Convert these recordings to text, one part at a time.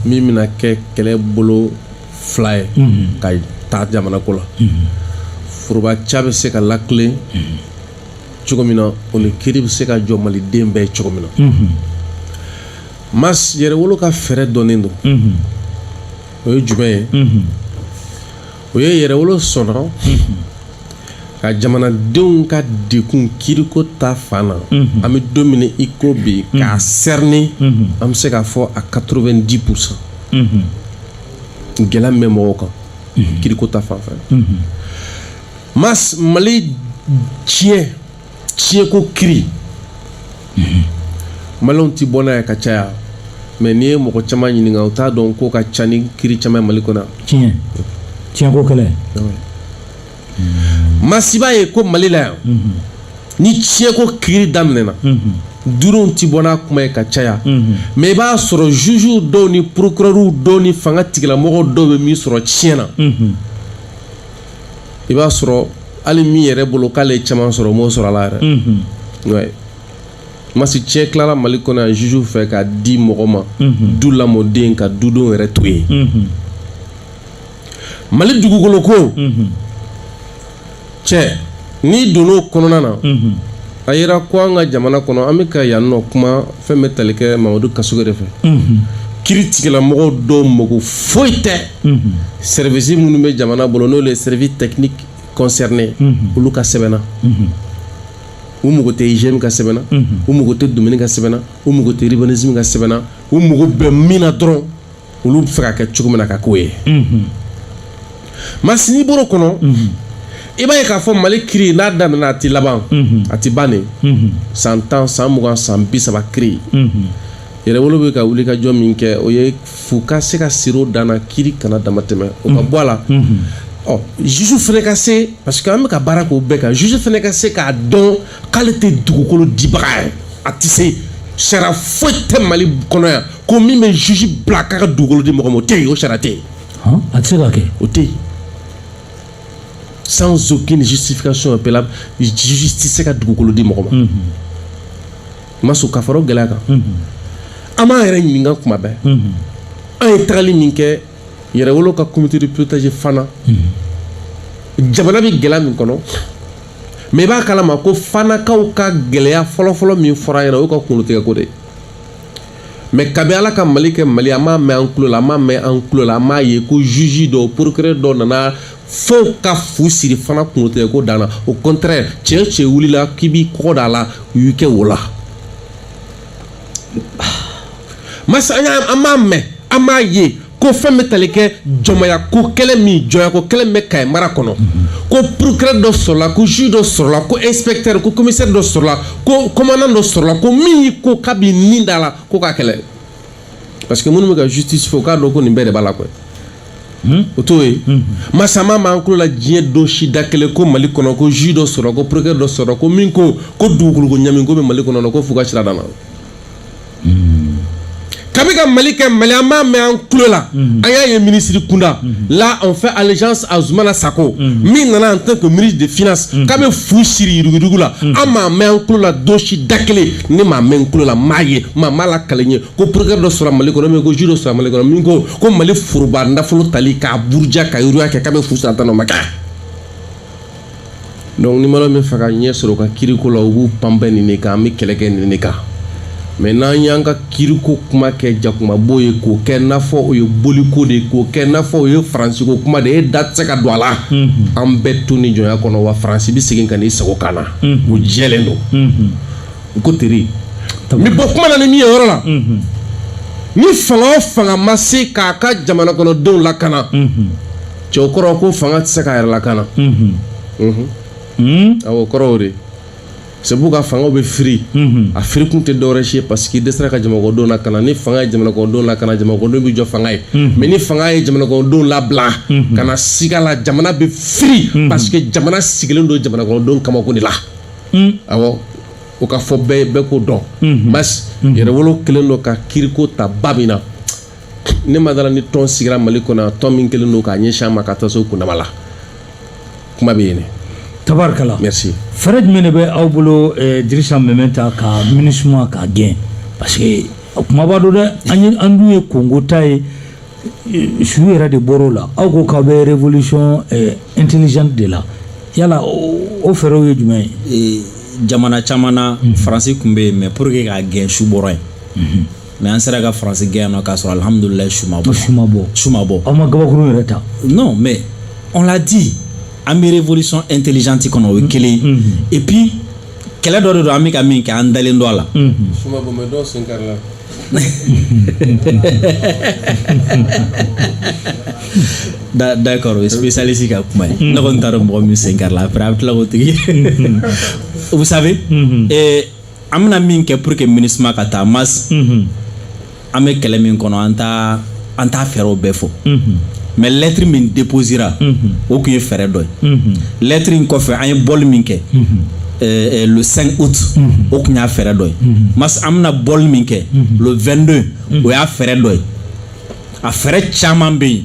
min bɛna kɛ kɛlɛ bolo fila ye ka taa jamana ko la foroba ca bɛ se ka latilen cogo min na o ni kiri bɛ se ka jɔ maliden bɛɛ cogo min na mais yɛrɛwolo ka fɛɛrɛ dɔnnen don o ye jumɛn ye o ye yɛrɛwolo sɔrɔ ka jamanadenw ka degun kiriko ta fan na an bɛ don min i ko bi k'a sɛrinen an bɛ se k'a fɔ a quatre-vingt-dix pour cent gɛlɛya bɛ mɔgɔw kan kiriko ta fan fɛ mali tiɲɛ tiɲɛko kiri mhm. maliyɛnw ti bɔ n'a ye ka caya mais n'i ye mɔgɔ caman ɲininka u t'a dɔn k'o ka ca ni kiri caman mali kɔnɔ tiɲɛ tiɲɛko kɛlɛ masiba ye ko mali la yan mhm. ni tiɲɛko kiri daminɛna mhm. duuruw ti bɔ n'a kuma ye ka caya mais i b'a sɔrɔ jugew dɔw ni procureurw dɔw ni fanga tigilamɔgɔ dɔw bɛ min sɔrɔ tiɲɛ na i b'a sɔrɔ hali min yɛrɛ bolo k'ale ye caman sɔrɔ o m'o sɔrɔ a la yɛrɛ mhm. ouais. masi tiɲɛ tilala mali kɔnɔ yan juge fɛ ka di mɔgɔ ma mhm. du lamɔden ka dudenw yɛrɛ to yen mhm. mali dugukolo ko tiɲɛ n'i donn'o kɔnɔna na a yira ko an ka jamana kɔnɔ an bɛ ka yan nɔ kuma fɛn bɛ tali kɛ mamadu kasoge de fɛ kiri tigilamɔgɔw dɔw mago foyi tɛ services minnu bɛ jamana bolo n'o ye services techniques concernés olu ka sɛbɛn na u mago tɛ igm ka sɛbɛn na u mago tɛ domaine ka sɛbɛn na u mago tɛ urbanisme ka sɛbɛn na u mago bɛ min na dɔrɔn olu b'a fɛ ka kɛ cogo min na ka k'o ye masini bolo kɔnɔ i b'a ye k'a fɔ mali kiri n'a daminɛna a tɛ laban a tɛ ban de san tan san mugan san bi saba kiri yɛrɛwolo bɛ ka wuli ka jɔ min kɛ o ye fu ka se ka siri dan na kiri kana dama tɛmɛ o ka bɔ a la ɔ juge fana ka se parce que an bɛ ka baara k'o bɛɛ kan juge fana ka se k'a dɔn k'ale tɛ dugukolo dibaga ye a tɛ se sariya foyi tɛ mali kɔnɔ yan ko min bɛ juge bila k'a ka dugukolo di mɔgɔ ma o tɛ yen o sariya tɛ yen a tɛ se ka kɛ o tɛ yen sans aucune justification valable juge tɛ se ka dugukolo di mɔgɔ ma ma sɔn ka fara o gɛlɛya kan an b'an yɛrɛ ɲininka kuma bɛɛ an ye tagali min kɛ yɛrɛwolo ka comité de pilotage fana jamana bɛ gɛlɛya min kɔnɔ mais i b'a kalama ko fanakaw ka gɛlɛya fɔlɔfɔlɔ min fɔra an ɲɛna o y'u ka kunkolotigɛko de ye mɛ kabi ala ka mali kɛ mali an m'a mɛn an tulo la an m'a mɛn an tulo la an m'a ye ko juge dɔ procureur dɔ nana fɛnw ka fu siri fana kungotigɛ ko dan na au contraire cɛ o cɛ wulila k'i b'i kɔgɔ da a la u y'i kɛ wo la mɛ sa an m'a mɛn an m'a ye ko fɛn bɛ tali kɛ jɔnmaya ko kɛlɛ min jɔnya ko kɛlɛ bɛ kaye mara kɔnɔ ko procureur dɔ sɔrɔla ko juge dɔ sɔrɔla ko inspecteur ko commissaire dɔ sɔrɔla ko commandant dɔ sɔrɔla ko min y'i ko k'a b'i ni da a la ko k'a kɛlɛ parce que minnu bɛ k'a justifier u k'a dɔn ko nin bɛɛ de b'a la kɔ hmm? o t'o ye hmm. mɛ sa an m'a mɛn an tulo la diɲɛ don si da kelen ko mali kɔnɔ ko juge dɔ sɔrɔ ko procureur dɔ sɔrɔ ko min ko ko dugukolo ko ɲami ko bɛ mali kɔnɔ ko fu ka siri a dan na kabi ka mali kɛ mali an b'a mɛn an tulo la an y'a ye minisiri kunda la on fait allégeance à zumana sako min nana en tant que ministre des finances k'a bɛ fu siri yuruguyurugu la an m'a mɛn an tulo la don si da kelen ne m'a mɛn n tulo la n m'a ye maa m'a lakali n ye ko procureur dɔ sɔrɔ mali kɔnɔ min ko juge dɔ sɔrɔ mali kɔnɔ min ko ko mali foroba nafolo tali k'a buruja ka yiriwa kɛ k'a bɛ fu siri a dan na o ma kɛ donc ni mana min fɛ ka ɲɛ sɔrɔ ka kiriko la u b'u panpɛ nin de kan an bɛ kɛlɛ kɛ nin de kan mɛ n'an y'an ka kiriko kuma kɛ jakumabo ye k'o kɛ n'a fɔ o ye boliko de ye k'o kɛ n'a fɔ o ye faransiko kuma de ye e da tɛ se ka don a la an bɛɛ to nin jɔnya kɔnɔ wa faransi bɛ segin ka n'i sigi an kan na o jɛlen don u ko teri n bɛ bɔ kuma na ni min ye yɔrɔ la ni fanga o fanga ma se k'a ka jamana kɔnɔdenw lakana c'est o kɔrɔ ko fanga tɛ se k'a yɛrɛ lakana a kɔrɔw de sabu ka fanga bɛ firi a firikun tɛ dɔwɛrɛ ye parce que a dɛsɛra ka jamanakɔnɔdenw lakana ni fanga ye jamanakɔnɔdenw lakana jamanakɔnɔdenw bɛ jɔ fanga ye mɛ ni fanga ye jamanakɔnɔdenw labila kana siga a la jamana bɛ firi parce que jamana sigilen don jamanakɔnɔdenw kamako de la awɔ o k'a fɔ bɛɛ bɛɛ k'o dɔn basi yɛrɛwolo kɛlen don ka kiriko ta ba min na ne ma da a la ni tɔn sigira mali kɔnɔ tɔn min kɛlen don k'a ɲɛsin ma ka taa s'o kundama la kuma bɛ yen ne tabarikala merci fɛɛrɛ jumɛn de bɛ aw bolo eh, dirisa meminta ka minisuma k'a gɛn parce que a kumaba don dɛ an ye an dun ye kongo ta ye eh, su yɛrɛ de bɔr'o la aw ko k'aw bɛ révolution eh, intelligente de la yala o o fɛɛrɛw ye jumɛn ye jamana caman na faransi tun bɛ yen mɛ pour que k'a gɛn su bɔra yen mɛ an sera ka faransi gɛn yan non k'a sɔrɔ alihamudulila su ma bɔ su ma bɔ su ma bɔ aw ma gabakuru yɛrɛ ta non mɛ on l'a dit an bɛ révolution intelligente kɔnɔ o ye kelen ye et puis kɛlɛ dɔ de don an bɛ ka min kɛ an dalen don a la su ma bɔ mɛ dɔw sen karila Da- d'accord o ye spécialiste ka kuma ye ne kɔni t'a dɔn mɔgɔ min sen karila après a bɛ tila k'o tigi vous savez eh, an bɛna min kɛ pour que minusma ka taa mas mhm. an bɛ kɛlɛ min kɔnɔ an taa an t'a fɛɛrɛw bɛɛ fɔ mhm. mais lɛtiri min deposira mhm. o tun ye fɛɛrɛ dɔ ye lɛtiri in kɔfɛ an ye bɔli min kɛ eh, eh, le 5 août o tun y'a fɛɛrɛ dɔ ye mas an bɛna bɔli min kɛ le 22 o y'a fɛɛrɛ dɔ ye a fɛɛrɛ caman bɛ yen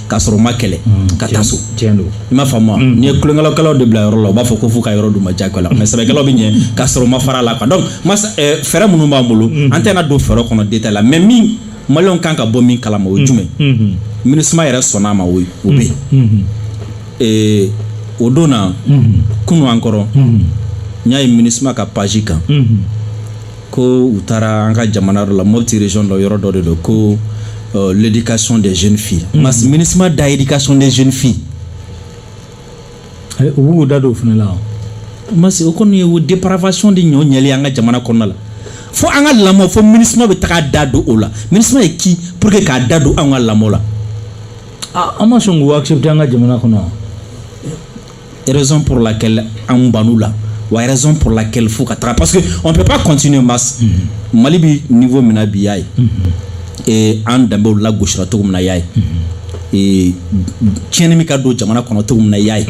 k'a sɔrɔ ma kɛlɛ mm, ka taa so i m'a faamu mm. n'i ye tulonkɛlakɛlaw de bila yɔrɔ la u b'a fɔ ko fo ka yɔrɔ d'u ma jagoya la mais sɛbɛkɛlaw bɛ ɲɛ k'a sɔrɔ ma fara la quoi donc eh, fɛɛrɛ minnu b'an bolo mm. an tɛna don fɛɛrɛ kɔnɔ détail la mais min maliyɛnw kan ka bɔ min kalama o ye jumɛn mm-hmm. minusma yɛrɛ sɔnna a ma o bɛ yen mm-hmm. eh, o don na mm-hmm. kunun encore n y'a ye minusma ka page kan ko u taara an ka jamana dɔ la moti région dɔ yɔrɔ dɔ de don ko euh, l'éducation des jeunes filles mm -hmm. minusma da éducation des jeunes filles eh, u b'u da don o fana la mas o kɔni ye o dépravation de ɲɔ ɲɛli an ka jamana kɔnɔna la fo an ka lamɔ fo minusma bɛ taga da don o la minusma ye qui pour que k'a da don an ka lamɔ la ah, an ma sɔn k'u accepter an ka jamana kɔnɔ raison pour laquelle an ban'u la wa raison pour laquelle fo ka taga parce que on peut pas continuer mas mhm. mali bɛ niveau min na bi y'a ye mhm. eh, an danbew lagosira cogo min na y'a ye mhm. eh, tiɲɛni min ka don jamana kɔnɔ cogo min na y'a ye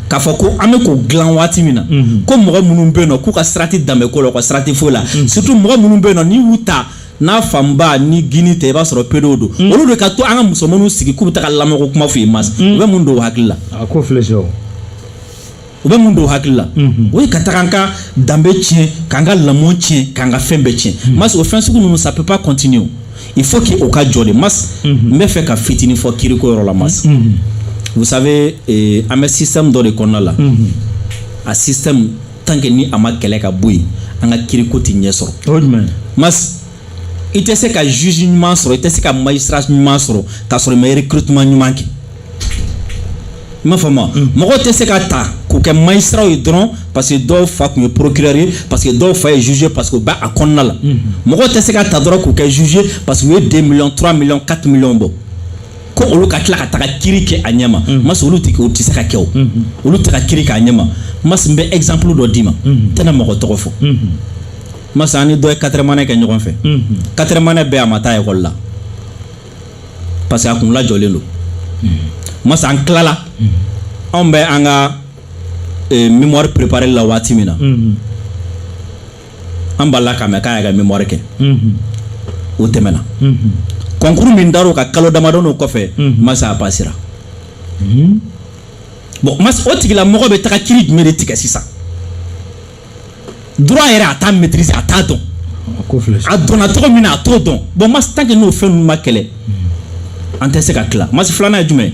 k'a fɔ ko an bɛ k'o dilan waati min na ko mɔgɔ minnu bɛ yen nɔ k'u ka sira tɛ danbeko la u ka sira tɛ foyi la surtout mɔgɔ minnu bɛ yen nɔ n'i y'u ta n'a fanba ni gouine tɛ i b'a sɔrɔ pédé don mm. olu de ka to an ka musomanninw sigi k'u bɛ taa ka lamɔko kuma f'u ye mas mm. u bɛ mun don u hakili la a ko filɛ c'est u bɛ mun don u hakili la mm-hmm. o ye ka taga an ka danbe tiɲɛ k'an ka lamɔ tiɲɛ k'an ka fɛn bɛɛ tiɲɛ mm. mas o fɛn sugu ninnu ça peut pas continuer il faut que o ka jɔ dɛ mas mm-hmm. n b'a fɛ ka fitinin fɔ kiriko yɔrɔ la mas mm-hmm. vous savez eh, an bɛ système dɔ de kɔnɔna la a système tant que ni a ma kɛlɛ ka bɔ yen an ka kiriko tɛ ɲɛ sɔrɔ mas i tɛ se ka zuze ɲuman sɔrɔ i tɛ se ka magistrat ɲuman sɔrɔ k'a sɔrɔ i ma recrutement ɲuman kɛ i m'a faamu mm. mɔgɔ tɛ se ka ta k'u kɛ magistratw ye dɔrɔn parce que dɔw fa tun ye procureur ye parce que dɔw fa ye zuze parce que u bɛ a kɔnɔna la mm-hmm. mɔgɔ tɛ se ka ta dɔrɔn k'u kɛ zuze parce que u ye deux millions trois millions quatre millions bɔ ko olu ka tila ka taga kiri kɛ a ɲɛma mm. mas olu tɛ o tɛ se ka kɛ o mm-hmm. olu tɛ ka kiri k'a ɲɛma mas n bɛ exemple dɔ d'i ma mm-hmm. tɛna mɔgɔ tɔgɔ fɔ mm-hmm. mas an ni dɔ ye quatrième année kɛ ɲɔgɔn fɛ quatrième année bɛɛ a ma taa ekɔli la parce que a kun lajɔlen don mas an tilala anw bɛ an ka eh, mémoire préparer la waati min na an b'a la k'a mɛn k'a y'a ka mémoire kɛ o tɛmɛna concours min dar'o ka kalo damadɔni o kɔfɛ masa a pasera bon masa o tigilamɔgɔ bɛ taga kiri jumɛn de tigɛ sisan droit yɛrɛ a t'a maîtriser a t'a dɔn a donna cogo min na a t'o dɔn bon masa tant que n'o fɛn ninnu ma kɛlɛ an tɛ se ka tila masa filanan ye jumɛn ye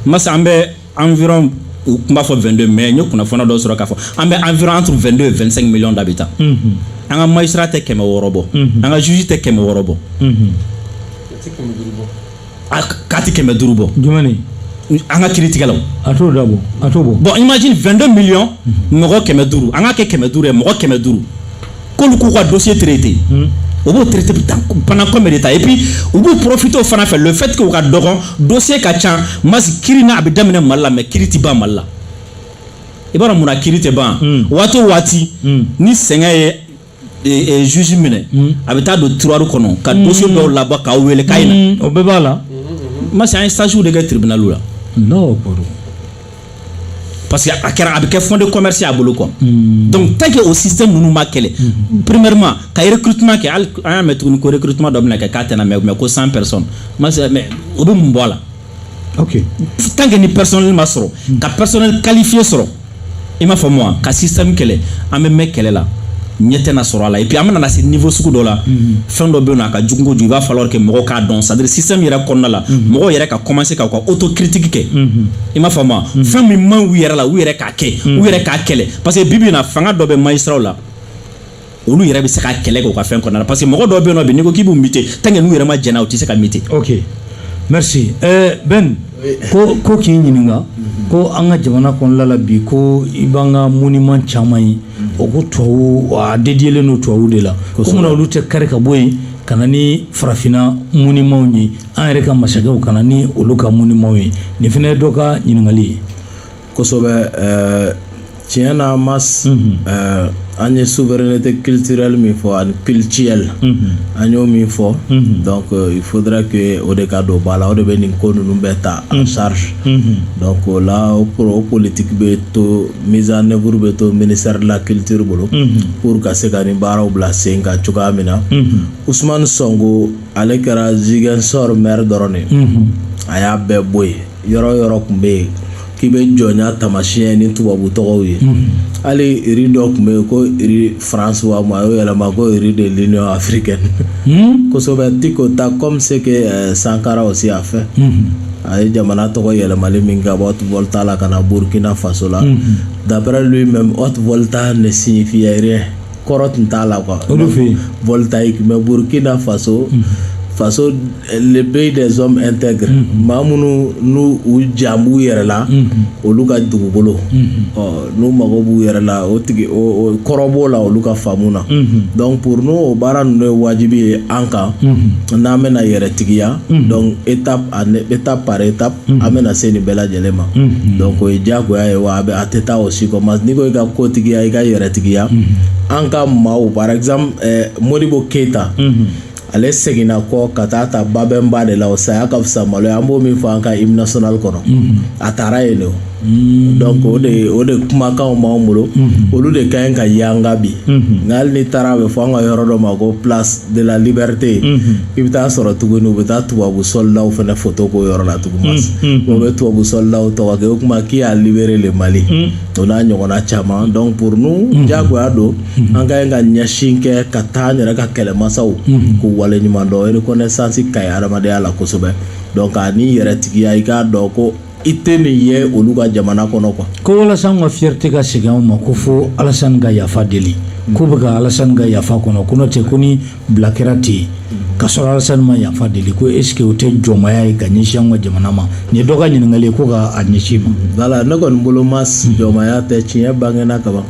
masa an bɛ environ u tun b'a fɔ 22 mais n ye kunnafoni dɔ sɔrɔ k'a fɔ an bɛ environ entre 22 et 25 millions d'habitants an ka magistrat tɛ kɛmɛ wɔɔrɔ bɔ an ka juge tɛ kɛmɛ wɔɔrɔ bɔ a k'a tɛ kɛmɛ duuru bɔ jumɛn ni an ka kiritigɛlaw a t'o da bɔ a t'o bɔ bon imagine 22 millions mɔgɔ kɛmɛ duuru an k'a kɛ kɛmɛ duuru ye mɔgɔ kɛmɛ duuru k'olu k'u ka dossier traiter hmm. u b'o traiter en combien de temps et puis u b'u profiter o fana fɛ le fait que u ka dɔgɔn dossier ka ca masi kiri n'a bɛ daminɛ mali la mais kiri ti ban mali la i b'a dɔn mun na kiri tɛ ban hmm. waati o waati hmm. ni sɛgɛn ye e, e, juge minɛ a bɛ taa don tiroir kɔnɔ ka dossier dɔw labɔ k'aw wele k'a ye na o bɛɛ b'a la masi an ye stage de kɛ tribunal la non o kɔrɔ parce que a kɛra a bɛ kɛ fonds de commerce a bolo quoi hmm. donc tant que o système ninnu ma kɛlɛ hmm. premièrement ka recrutement kɛ hali an y'a mɛn tuguni ko recrutement dɔ bɛna kɛ k'a tɛna mɛɛn mais ko 100 personnes mais o bɛ mun bɔ a la ok tant que ni personnel ma sɔrɔ hmm. ka personnel qualifié sɔrɔ i m'a faamu wa ka système kɛlɛ an bɛ mɛɛn kɛlɛ la ɲɛ tɛna sɔrɔ a la et puis an bɛna na se niveau sugu dɔ la mhm. fɛn dɔ bɛ yen nɔ a ka jugu kojugu il va falloir que mɔgɔw k'a dɔn c'est à dire système yɛrɛ kɔnɔna la mhm. mɔgɔw yɛrɛ ka commencer ka u ka autocritique kɛ mhm. i m'a faamu wa fɛn min man u yɛrɛ la u yɛrɛ k'a kɛ u yɛrɛ k'a kɛlɛ parce que bi bi in na fanga dɔ bɛ magistrat la olu yɛrɛ bɛ se ka kɛlɛ kɛ u ka fɛn kɔnɔna la parce que mɔgɔ dɔw bɛ yen nɔ bi n'i ko k'i b'u muter tant que n'u yɛrɛ ma jɛn n'a ye u tɛ se ka muter. ok merci ɛɛ Ben. ko ko k'i ɲininka ko an ka jamana kɔnɔla la bi ko i b'an ka moniman caman ye o ko tubabu a dédiélen don tubabu de la ko munna olu tɛ kari ka bɔ yen ka na ni farafinna monimanw ye an yɛrɛ ka masakɛw ka na ni olu ka monimanw ye nin fana ye dɔ ka ɲininkali ye kosɛbɛ ɛɛ tiɲɛ na mas ɛɛ an ye souveraineté culturelle min fɔ ani cultuelle an y'o min fɔ donc euh, il faudra que o de ka don ba la o de bɛ nin ko ninnu bɛɛ ta en charge donc o la o pro- o politique bɛ to mise en œuvre bɛ to ministère de la culture bolo pour ka se ka nin baaraw bila sen kan cogoya min na Ousmane Sonko ale kɛra Ziguinchor maire dɔrɔn de ye a y'a bɛɛ bɔ yen yɔrɔ yɔrɔ tun bɛ yen k'i bɛ jɔnya tamasiyɛn ni tubabu tɔgɔw ye hali rue dɔ tun bɛ yen ko rue france wa ma y'o yɛlɛma ko rue de l'union africaine kosɛbɛ ti ko ta comme ce que eh, sankara aussi a fait a ye jamana tɔgɔ yɛlɛmali min kɛ haute volta la ka na burkina faso la d'après lui même haute volta ne signifie rien kɔrɔ tun t'a la quoi olu fɛ yen voltaïque mais burukina faso faso le pays des hommes intègres maa minnu n'u u jan b'u yɛrɛ la olu ka dugukolo ɔ n'u mago b'u yɛrɛ la o tigi kɔrɔ b'o la olu ka faamu na donc pour nous o baara ninnu ye wajibi ye an kan n'an bɛna yɛrɛtigiya donc étape étape par étape Mm-hmm. an bɛna se nin bɛɛ lajɛlen ma mm-hmm. donc o ye diyagoya ye wa a bɛ a tɛ taa o si kɔ mais n'i ko i ka kotigiya i ka yɛrɛtigiya mm-hmm. an ka maaw par exemple eh, modibo keyita ale seginna kɔ ka taa ta babɛnba de la o saya ka fisa malo ye an b'o min fɔ an ka hymne national kɔnɔ a tara yen de o Mm. donc o de o de kumakanw b'an bolo mm-hmm. olu de ka ɲi ka yanga bi mm-hmm. nka hali n'i taara a bɛ fɔ an ka yɔrɔ dɔ ma ko place de la liberté mm-hmm. i bɛ taa sɔrɔ tuguni u bɛ taa tubabu sɔlidaw fana foto k'o yɔrɔ la tugun mas o bɛ tubabu sɔlidaw tɔgɔ kɛ o kuma qui a libéré le Mali o n'a ɲɔgɔnna caman donc pour nous diyagoya don an ka ɲi ka ɲɛsin kɛ ka taa an yɛrɛ ka kɛlɛmasaw k'u wale ɲuman dɔn reconnaissance ka ɲi hadamadenya la kosɛbɛ donc ani yɛrɛtigiya i k'a dɔn ko i tɛ nin ye olu ka jamana kɔnɔ quoi ko walasa an ka fierté ka segin anw ma ko fo alasani ka yafa deli k'u bɛ ka alasani ka yafa kɔnɔ ko n'o tɛ ko n'u bila kɛra ten ka sɔrɔ alasani ma yafa deli ko est-ce que o tɛ jɔnmaya ye ka ɲɛsin an ka jamana ma nin dɔgɔ ka ɲininkali ko ka a ɲɛsin ma wala ne kɔni boloma jɔnmaya tɛ tiɲɛ bangena kaban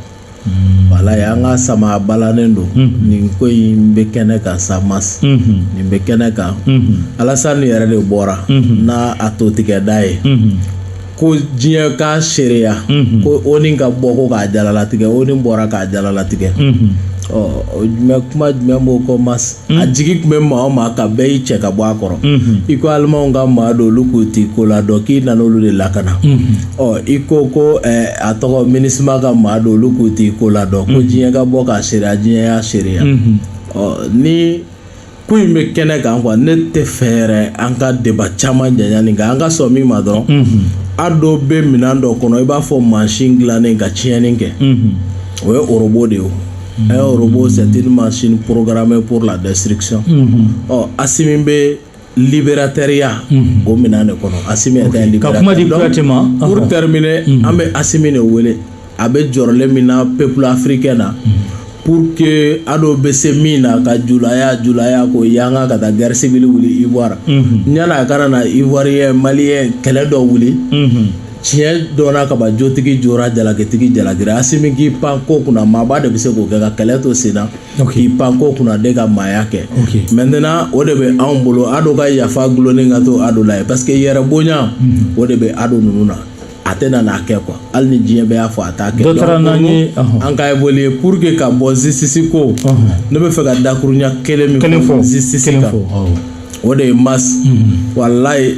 ye an ka sama balannen don nin ko in bɛ kɛnɛ kan sa ma nin bɛ kɛnɛ kan alasani yɛrɛ de bɔra n' a to tigɛ da ye ko diɲɛ ka seereya ko ONU ka bɔ ko k'a jalalatigɛ ONU bɔra k'a jalalatigɛ jumɛn kuma jumɛn b'o kɔ ma a jigi tun bɛ maa maa kan bɛɛ y'i cɛ ka bɔ a kɔrɔ i ko alimanw ka maa don olu k'u tɛ ko la dɔn k'i nana olu de lakana Ɔ i ko ko a tɔgɔ MINUSMA ka maa don olu k'u tɛ ko la dɔn ko diɲɛ ka bɔ k'a seereya diɲɛ y'a seereya ɔ nin ko in bɛ kɛnɛ kan quoi ne t'a fɛ an ka débat caman janya nka an ka sɔn min ma dɔrɔn ADO bɛ minɛn dɔ kɔnɔ i b'a fɔ machine dilannen ka tiɲɛni kɛ o ye robot de ye ɛ robot c'est une machine programmée pour la destruction asimi bɛ libérateurya o minɛn de kɔnɔ a kamatɛminɛ an bɛ asimi de wele a bɛ jɔrɔlen min na peuple africain na pour que ADO bɛ se min na ka julaya julaya ko yanga ka taa guerre civile wuli ivoirien na ka na na ivoirien malien kɛlɛ dɔ wuli tiɲɛ dɔn ka jotigi jo ka jalakitigi jalaki asimi k'i pan ko kunna maaba de bɛ se k'o kɛ ka kɛlɛ to sen na k'i pan ko kunna de ka maaya kɛ maintenant o de bɛ anw bolo adu ka yafa dulonnen ka to adu la parce que yɛrɛ bonya o de bɛ adu ninnu na a tɛna a kɛ quoi hali ni diɲɛ bɛɛ y'a fɔ a taa kɛ an ka boli pour que ka bɔ justice ko ne b'a fɛ ka dakurunya kelen min fɔ justice kan o de ye mas walayi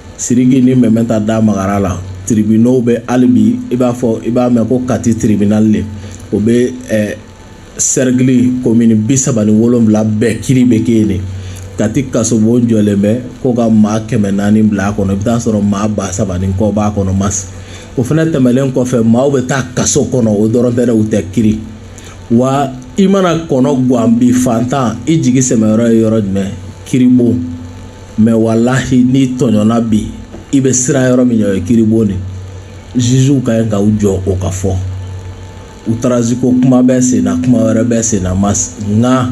Siriki ni mɛmɛ ta da magara la tribunal bɛ hali bi i b'a fɔ i b'a mɛn ko kati tribunal de o bɛ cercle commune bi saba ni wolonwula bɛɛ kiri bɛ kɛ de kati kasobon jɔlen bɛ ko ka maa kɛmɛ naani bila a kɔnɔ i b'a sɔrɔ maa ba saba ni kɔ b'a kɔnɔ mas o fana tɛmɛnlen kɔfɛ maaw bɛ taa kaso kɔnɔ o dɔrɔn tɛ u tɛ kiri wa i mana kɔnɔ gan bi fantan i jigi sɛmɛyɔrɔ ye yɔrɔ jumɛn kiribon mais walayi n'i tɔɲɔna bi i bɛ siran yɔrɔ min ɲɛ o ye kiribon de jugew ka ɲi ka u jɔ o ka fɔ u taraziko kuma bɛ sen na kuma wɛrɛ bɛ sen na mas nka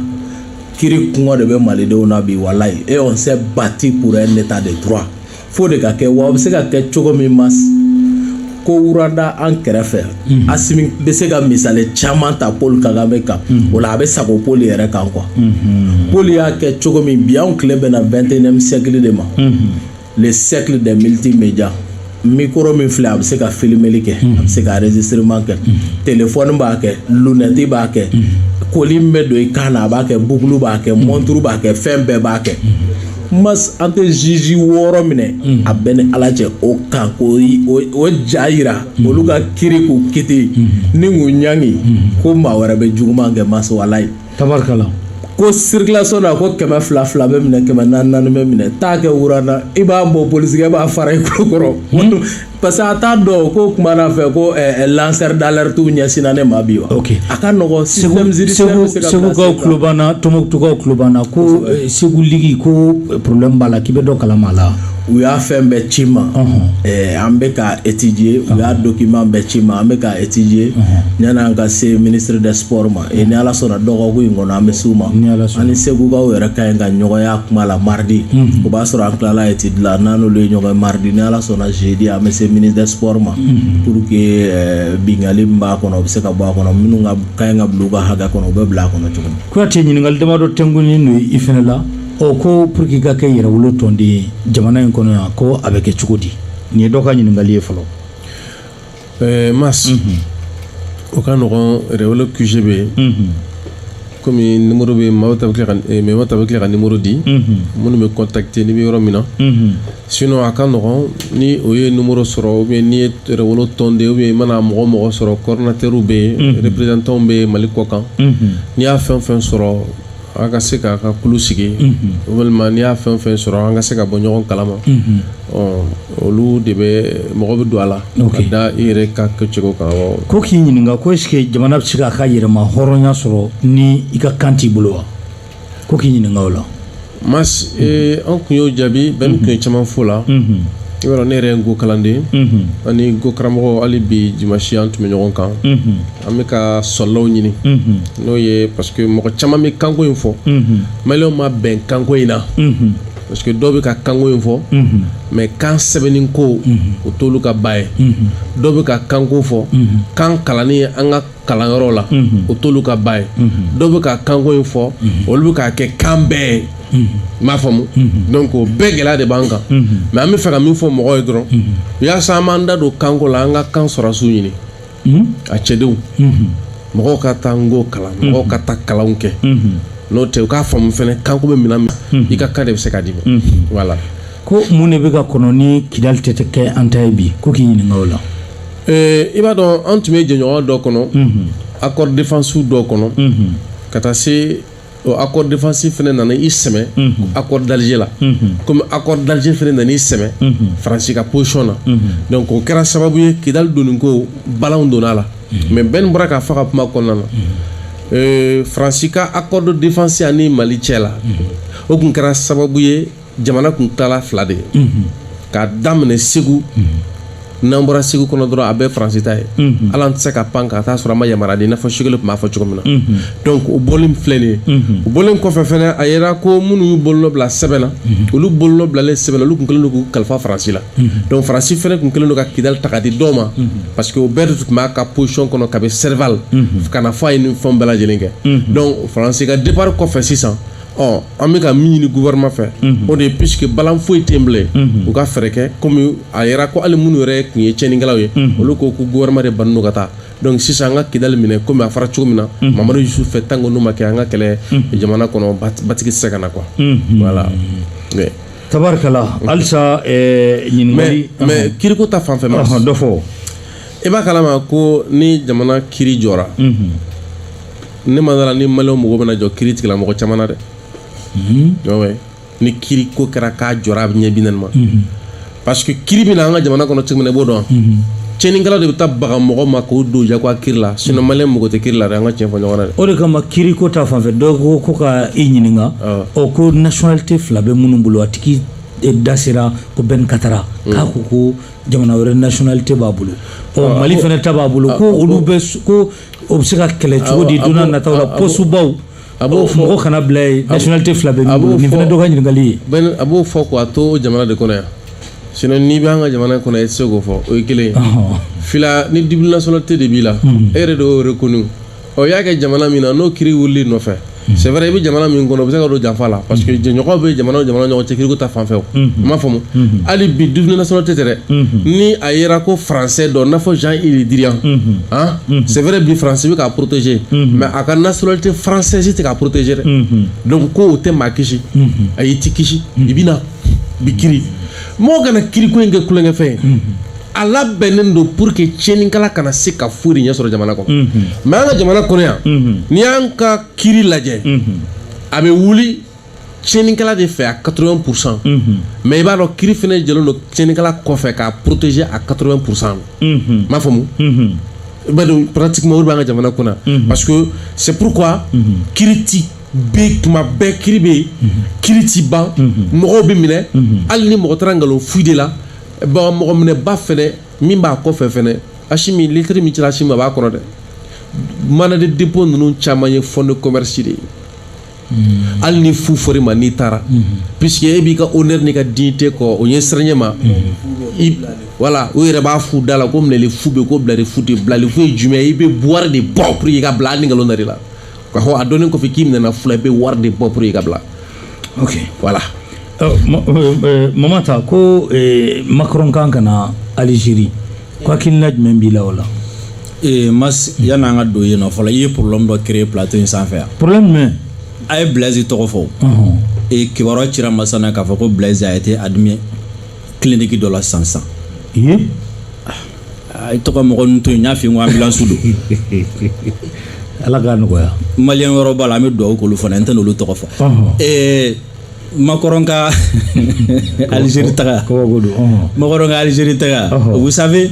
kiri kɔngɔ de bɛ malidenw na bi walayi eh on s'est battu pour un état de droit fo o de ka kɛ wa a bɛ se ka kɛ cogo min mas ko rwanda an kɛrɛfɛ mhm. asimi bɛ se ka misali caman ta paul kagame kan mhm. o la a bɛ sago paul yɛrɛ kan quoi mhm. paul y'a kɛ cogo min bi anw tile bɛna vingt-et-unième siècle de ma le siècle de multimédia micro min filɛ a bɛ se ka filimeli kɛ a bɛ se ka enregistrement kɛ telefɔni b'a kɛ lunɛti b'a kɛ collier min bɛ don i kan na a b'a kɛ bukulu b'a kɛ mɔnturu b'a kɛ fɛn bɛɛ b'a kɛ ko mas an tɛ juge wɔɔrɔ minɛ mm. a b'i ni ala cɛ o kan k'u ja yira mm. olu ka kiri k'u kiti mm. ni k'u ɲangi ko maa wɛrɛ bɛ juguman kɛ mas walayi tabarikala ko circulation na ko kɛmɛ fila fila bɛ minɛ kɛmɛ naani naani bɛ minɛ taa kɛ rwanda i b'a bɔ polisikɛ b'a fara i kolo kɔrɔ parce que a t'a dɔn ko kuma na fɛ ko eh, eh, lanceur d'alerte ɲɛsinna ne ma bi wa ok a ka nɔgɔ système judiciaire bɛ se ka segukaw placer tulo b'an na tɔmɔkutukaw tulo b'an na ko eh, segu ligi ko eh, problème b'a la k'i bɛ dɔ kalama a la u y'a fɛn bɛɛ ci n ma Eh, an bɛ k'a étudier u y'a document bɛɛ ci n ma an bɛ k'a étudier yanni an ka se ministre des sports ma ni ala sɔnna dɔgɔkun in kɔnɔ an bɛ se u ma an ni segukaw yɛrɛ ka ɲi ka ɲɔgɔn ye a kuma la mardi o b'a sɔrɔ an tilala étude la n'an n'olu ye ɲɔgɔn mardi ni ala sɔnna jeudi an bɛ se ministre des sports ma pour que binkali b'a kɔnɔ bɛ se ka bɔ a kɔnɔ minnu ka kan ka bila a kɔnɔ u bɛ bila a kɔnɔ cogo kuyate ɲininkali damadɔ tɛkun n'o i fana la ɔ ko pour que i ka kɛ yɛrɛwolo tɔnden jamana in kɔnɔ yan ko a bɛ kɛ cogo di nin ye dɔ ka ɲininkali ye fɔlɔ Ɛɛ mais o ka nɔgɔn yɛrɛwolo QG bɛ yen kɔmi numéro bɛ mɔgɔ ta bɛ tila ka numéro di minnu bɛ contacter n'i bɛ yɔrɔ min na sinon a ka nɔgɔn ni o ye numéro sɔrɔ bɛ ni ye yɛrɛwolo tɔnden bɛ mana mɔgɔ mɔgɔ sɔrɔ coordinateurw bɛ yen représentantw bɛ mali kɔkan n'i y'a fɛn fɛn sɔrɔ An ka se k'an ka kulu sigi walima n'i y'a fɛn o fɛn sɔrɔ an ka se ka bɔ ɲɔgɔn kalama olu de bɛ mɔgɔ bɛ don a la ka da i yɛrɛ ka kɛ cogo kan ko k'i ɲininka ko e jamana bɛ se k'a ka yɛrɛmahɔrɔnya sɔrɔ ni i ka kan t'i bolo wa ko k'i ɲininka o la mais an tun y'o jaabi Ben tun ye caman fɔ o la ayiwa ne yɛrɛ nko kalanden ani nko karamɔgɔ hali bi dimasi an tun bɛ ɲɔgɔn kan an bɛ ka sɔlɔw ɲini n'o ye parce que mɔgɔ caman bɛ kanko in fɔ maliw ma bɛn kanko in na parce que dɔw bɛ ka kanko in fɔ mais kan sɛbɛnni ko o t'olu ka ba ye dɔw bɛ ka kanko fɔ kan kalanni ye an ka kalanyɔrɔ la o t'olu ka ba ye dɔw bɛ ka kanko in fɔ olu bɛ k'a kɛ kan bɛɛ ye n m'a faamu donc o bɛɛ gɛlɛya de b'an kan mais an bɛ fɛ ka min fɔ mɔgɔw ye dɔrɔn yaasa an b'an da don kanko la an ka kan solution ɲini a cɛdenw mɔgɔw ka taa nko kalan mɔgɔw ka taa kalanw kɛ n'o tɛ u k'a faamu fana kanko bɛ min na min i ka kan de bɛ se k'a d'i ma wala ko mun de bɛ ka kɔnɔ ni kidali tɛ kɛ an ta ye bi ko k'i ɲininka o la i b'a dɔn an tun bɛ jɛɲɔgɔnya dɔ kɔnɔ accord défense dɔ kɔnɔ ka taa se Ɔ accord défense fana nana i sɛmɛ accord d'Alger la comme accord d'Alger fana nana i sɛmɛ France ka position na donc o kɛra sababu ye Kidali donni ko balanw donna a la mais Ben bɔra k'a fɔ a ka kuma kɔnɔna na euh, France ka accord de défense ani Mali cɛ la o tun kɛra sababu ye jamana tun tilara fila de ye k'a daminɛ segu n'an bɔra segu kɔnɔ dɔrɔn a bɛɛ faransi ta ye hali an tɛ se ka pan ka taa sɔrɔ a ma yamara di n'a fɔ Choguel tun b'a fɔ cogo min na donc o bɔlen filɛ nin ye o bɔlen kɔfɛ fɛnɛ a yera ko minnu y'u bolonɔ bila sɛbɛn na olu bolonɔ bilalen sɛbɛn na olu tun kɛlen don k'u kalifa faransi la donc faransi fɛnɛ tun kɛlen don ka kidali ta ka di dɔw ma parce que o bɛɛ de tun b'a ka position kɔnɔ kabi serval ka na fo a ye nin fɛnw bɛɛ lajɛlen kɛ donc faransi ka départ kɔfɛ sisan ɔ an bɛ ka min ɲini gouvernement fɛ o de ye puisque balan foyi tɛ bilen u ka fɛɛrɛ kɛ kɔmi a yira ko ali minnu yɛrɛ tun ye tiɲɛnikɛlaw ye olu ko ko gouvernement de bannen don ka taa donc sisan an ka kidali minɛ kɔmi a fɔra cogo min na mamari dusu fɛ tan ko n'o ma kɛ an ka kɛlɛ jamana kɔnɔ basigi tɛ se ka na qu wala tarikala alisa ɲini mɛ kiriku ta fanfɛ ma dɔ fɔ i b'a kalama ko ni jamana ki jɔ ne ma da a la ni mali mɔgɔ bɛna jɔ kiritigɛla mɔgɔ caman na dɛ mhm. ni kiri ko kɛra k'a jɔra a bɛ ɲɛ bi naani ma mhm. parce que kiri bɛ na an ka jamana kɔnɔ cogo min na i b'o dɔn mhm. tiɲɛnikɛlaw de bɛ taa baga mɔgɔ ma k'o don jagoya kiri la sinɔn mali mɔgɔ tɛ kiri la dɛ an ka tiɲɛ fɔ ɲɔgɔn na dɛ o de kama kiri ko ta fanfɛ dɔw ko ko ka i ɲininka ɔ ko nationalité fila bɛ minnu bolo a tigi e, da sera ko bɛn katara mm. k'a ko ko jamana wɛrɛ nationalité b'a bolo ɔ mali fana ta b'a bolo ko olu bɛ ko o bɛ se ka kɛlɛ cogo di don nataw la pɔsubaw a b'o fɔ mɔgɔ kana bila yen nationalité fila b'i bolo nin fana dɔ ka ɲininkali ye a b'o fɔ ko a to jamana de kɔnɔ yan sinon n'i bɛ an ka jamana kɔnɔ i tɛ se k'o fɔ o ye kelen ye fila ni double nationalité de b'i la e yɛrɛ de y'o reconnu ɔ y'a kɛ jamana min na n'o kiri wulil'i nɔfɛ c'est vrai i bɛ jamana min kɔnɔ bɛ se ka don janfa la parce que jɛɲɔgɔn bɛ jamana jamana ɲɔgɔn cɛ kiriko ta fanfɛ aw m'a faamu hali bi double nationalité dɛ ni a yera ko français don n'a fɔ jean-yves le drian c'est vrai bi faransi bɛ k'a protéger mais a ka nationalité française tɛ k'a protéger dɛ ko o tɛ maa kisi ayi i tɛ kisi i bɛ na u b'i kiri mɔgɔ kana kiriko in kɛ tulonkɛfɛn ye a labɛnnen don pour que tiɲɛnikɛla kana se ka foyi de ɲɛ sɔrɔ jamana kɔnɔ mhm. mais an ka jamana kɔnɔ yan mhm. n'i y'an ka kiri lajɛ mhm. a bɛ wuli tiɲɛnikɛla de fɛ a 80 pourcent mais i b'a dɔn kiri fana jɔlen don tiɲɛnikɛla kɔfɛ k'a protéger a 80 pourcent m'a faamu i b'a dɔn pratiquement o de b'an ka jamana kunna parce que c'est pourquoi kiri ti bɛ tuma bɛɛ kiri bɛ yen kiri ti ban mɔgɔw bɛ minɛ hali ni mɔgɔ taara nkalon fu de la bon mɔgɔ minɛba fɛnɛ min b'a kɔfɛ fɛnɛ asimi lettre min cira asimi ma b'a kɔnɔ dɛ mandat de dépôt ninnu caman ye fond de commerce de ye hmm. hali ni fu fɔr'i ma n'i taara hmm. puisque e b'i ka honneur n'i ka dignité kɔ o ye siranyɛ ma voilà hmm. u yɛrɛ b'a fɔ u da la ko minɛli fu bɛ ko bilali fu tɛ bilali fu ye jumɛn ye i bɛ wari de bɔ pour que i ka bila hali ni nkalon dar'i la k'a fɔ a dɔnnen kɔfɛ k'i minɛna fu la i bɛ wari de bɔ pour i ka bila ok voilà mama ta ko macron kan ka na algérie ko hakilina jumɛn b'i la o la mais yanni an ka don yen nɔ fɔlɔ i ye problème dɔ créer plateau in sanfɛ yan problème jumɛn a ye blaise tɔgɔ fɔ kibaruya cira masana k'a fɔ ko blaise a été admis kiliniki dɔ la san san i tɔgɔ mɔgɔ n to yen n y'a fi ko anbilansu don ala k'a nɔgɔya malien wɔɔrɔ b'a la an bɛ dugawu k'olu fana n tɛna olu tɔgɔ fɔ makɔrɔn ka alizeri taga makɔrɔn ka alizeri taga vous savez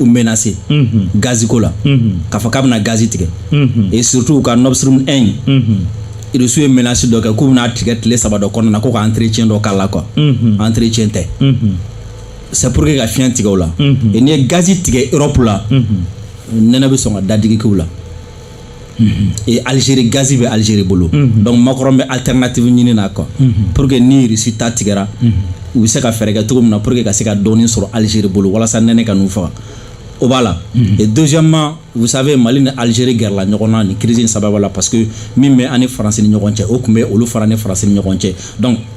u menacé gazi ko la k'a fɔ k'a bɛna gazi tigɛ et surtout u ka nord stream 1 irisiw ye menace dɔ kɛ k'u bɛna tigɛ tile saba dɔ kɔnɔna na ko ka entretien dɔ k'a la quoi entretien tɛ c'est pour que ka fiɲɛ tigɛ u la et n'i ye gazi tigɛ europe la nɛnɛ bɛ sɔn ka dadigi k'u la E alizeri gazi bɛ alizeri bolo donc makɔrɔn bɛ alternative ɲini na quoi pour que ni Russie ta tigɛra u bɛ se ka fɛɛrɛ kɛ cogo min na pour que ka se ka dɔɔnin sɔrɔ alizeri bolo walasa nɛnɛ kana u faga o b'a la deuxièmement vous savez mali ni alizeri gɛrɛla ɲɔgɔn na ni crise sababu la parce que min bɛ an ni faransi ni ɲɔgɔn cɛ o tun bɛ olu fana ni faransi ni ɲɔgɔn cɛ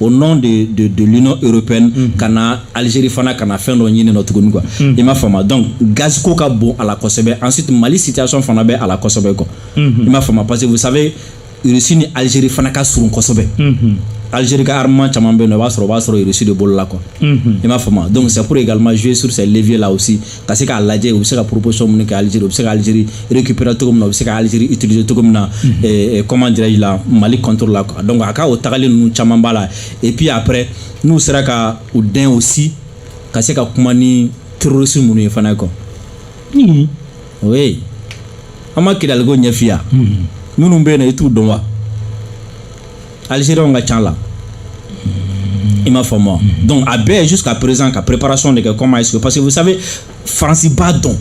au nom de de de l'union européenne mm -hmm. ka na Algérie fana ka na fɛn dɔ ɲini nɔ tuguni quoi mm -hmm. i m'a faamu donc gaz ko ka bon a la kosɛbɛ ensuite Mali situation fana bɛ a la kosɛbɛ quoi mm -hmm. i m'a faamu parce que vous savez Russie ni Algérie fana ka surun kosɛbɛ mm -hmm. Algérie ka armement caman bɛ yen n'o b'a sɔrɔ o b'a sɔrɔ Russie de bolo la quoi mm -hmm. i m'a faamu donc c'est pour également jouer sur ces leviers là aussi ka se k'a lajɛ u bɛ se ka proposition minnu kɛ Algérie u bɛ se ka Algérie récupérer cogo min na u bɛ se ka Algérie utiliser cogo min na mhm. eh, eh, comment dirais-je la Mali contre la donc a ka o tagali ninnu caman b'a la et puis après n'u sera ka u dɛn aussi ka se ka kuma ni terroristes ninnu ye fana quoi oui an ma kidaliko ɲɛfiya minnu bɛ yen na i t'u dɔn wa alizeriyɛnw ka ca a la i m'a faamu donc a bɛ jusqu'à présent ka préparation de kɛ comment est-ce que parce que vous savez faransi b'a dɔn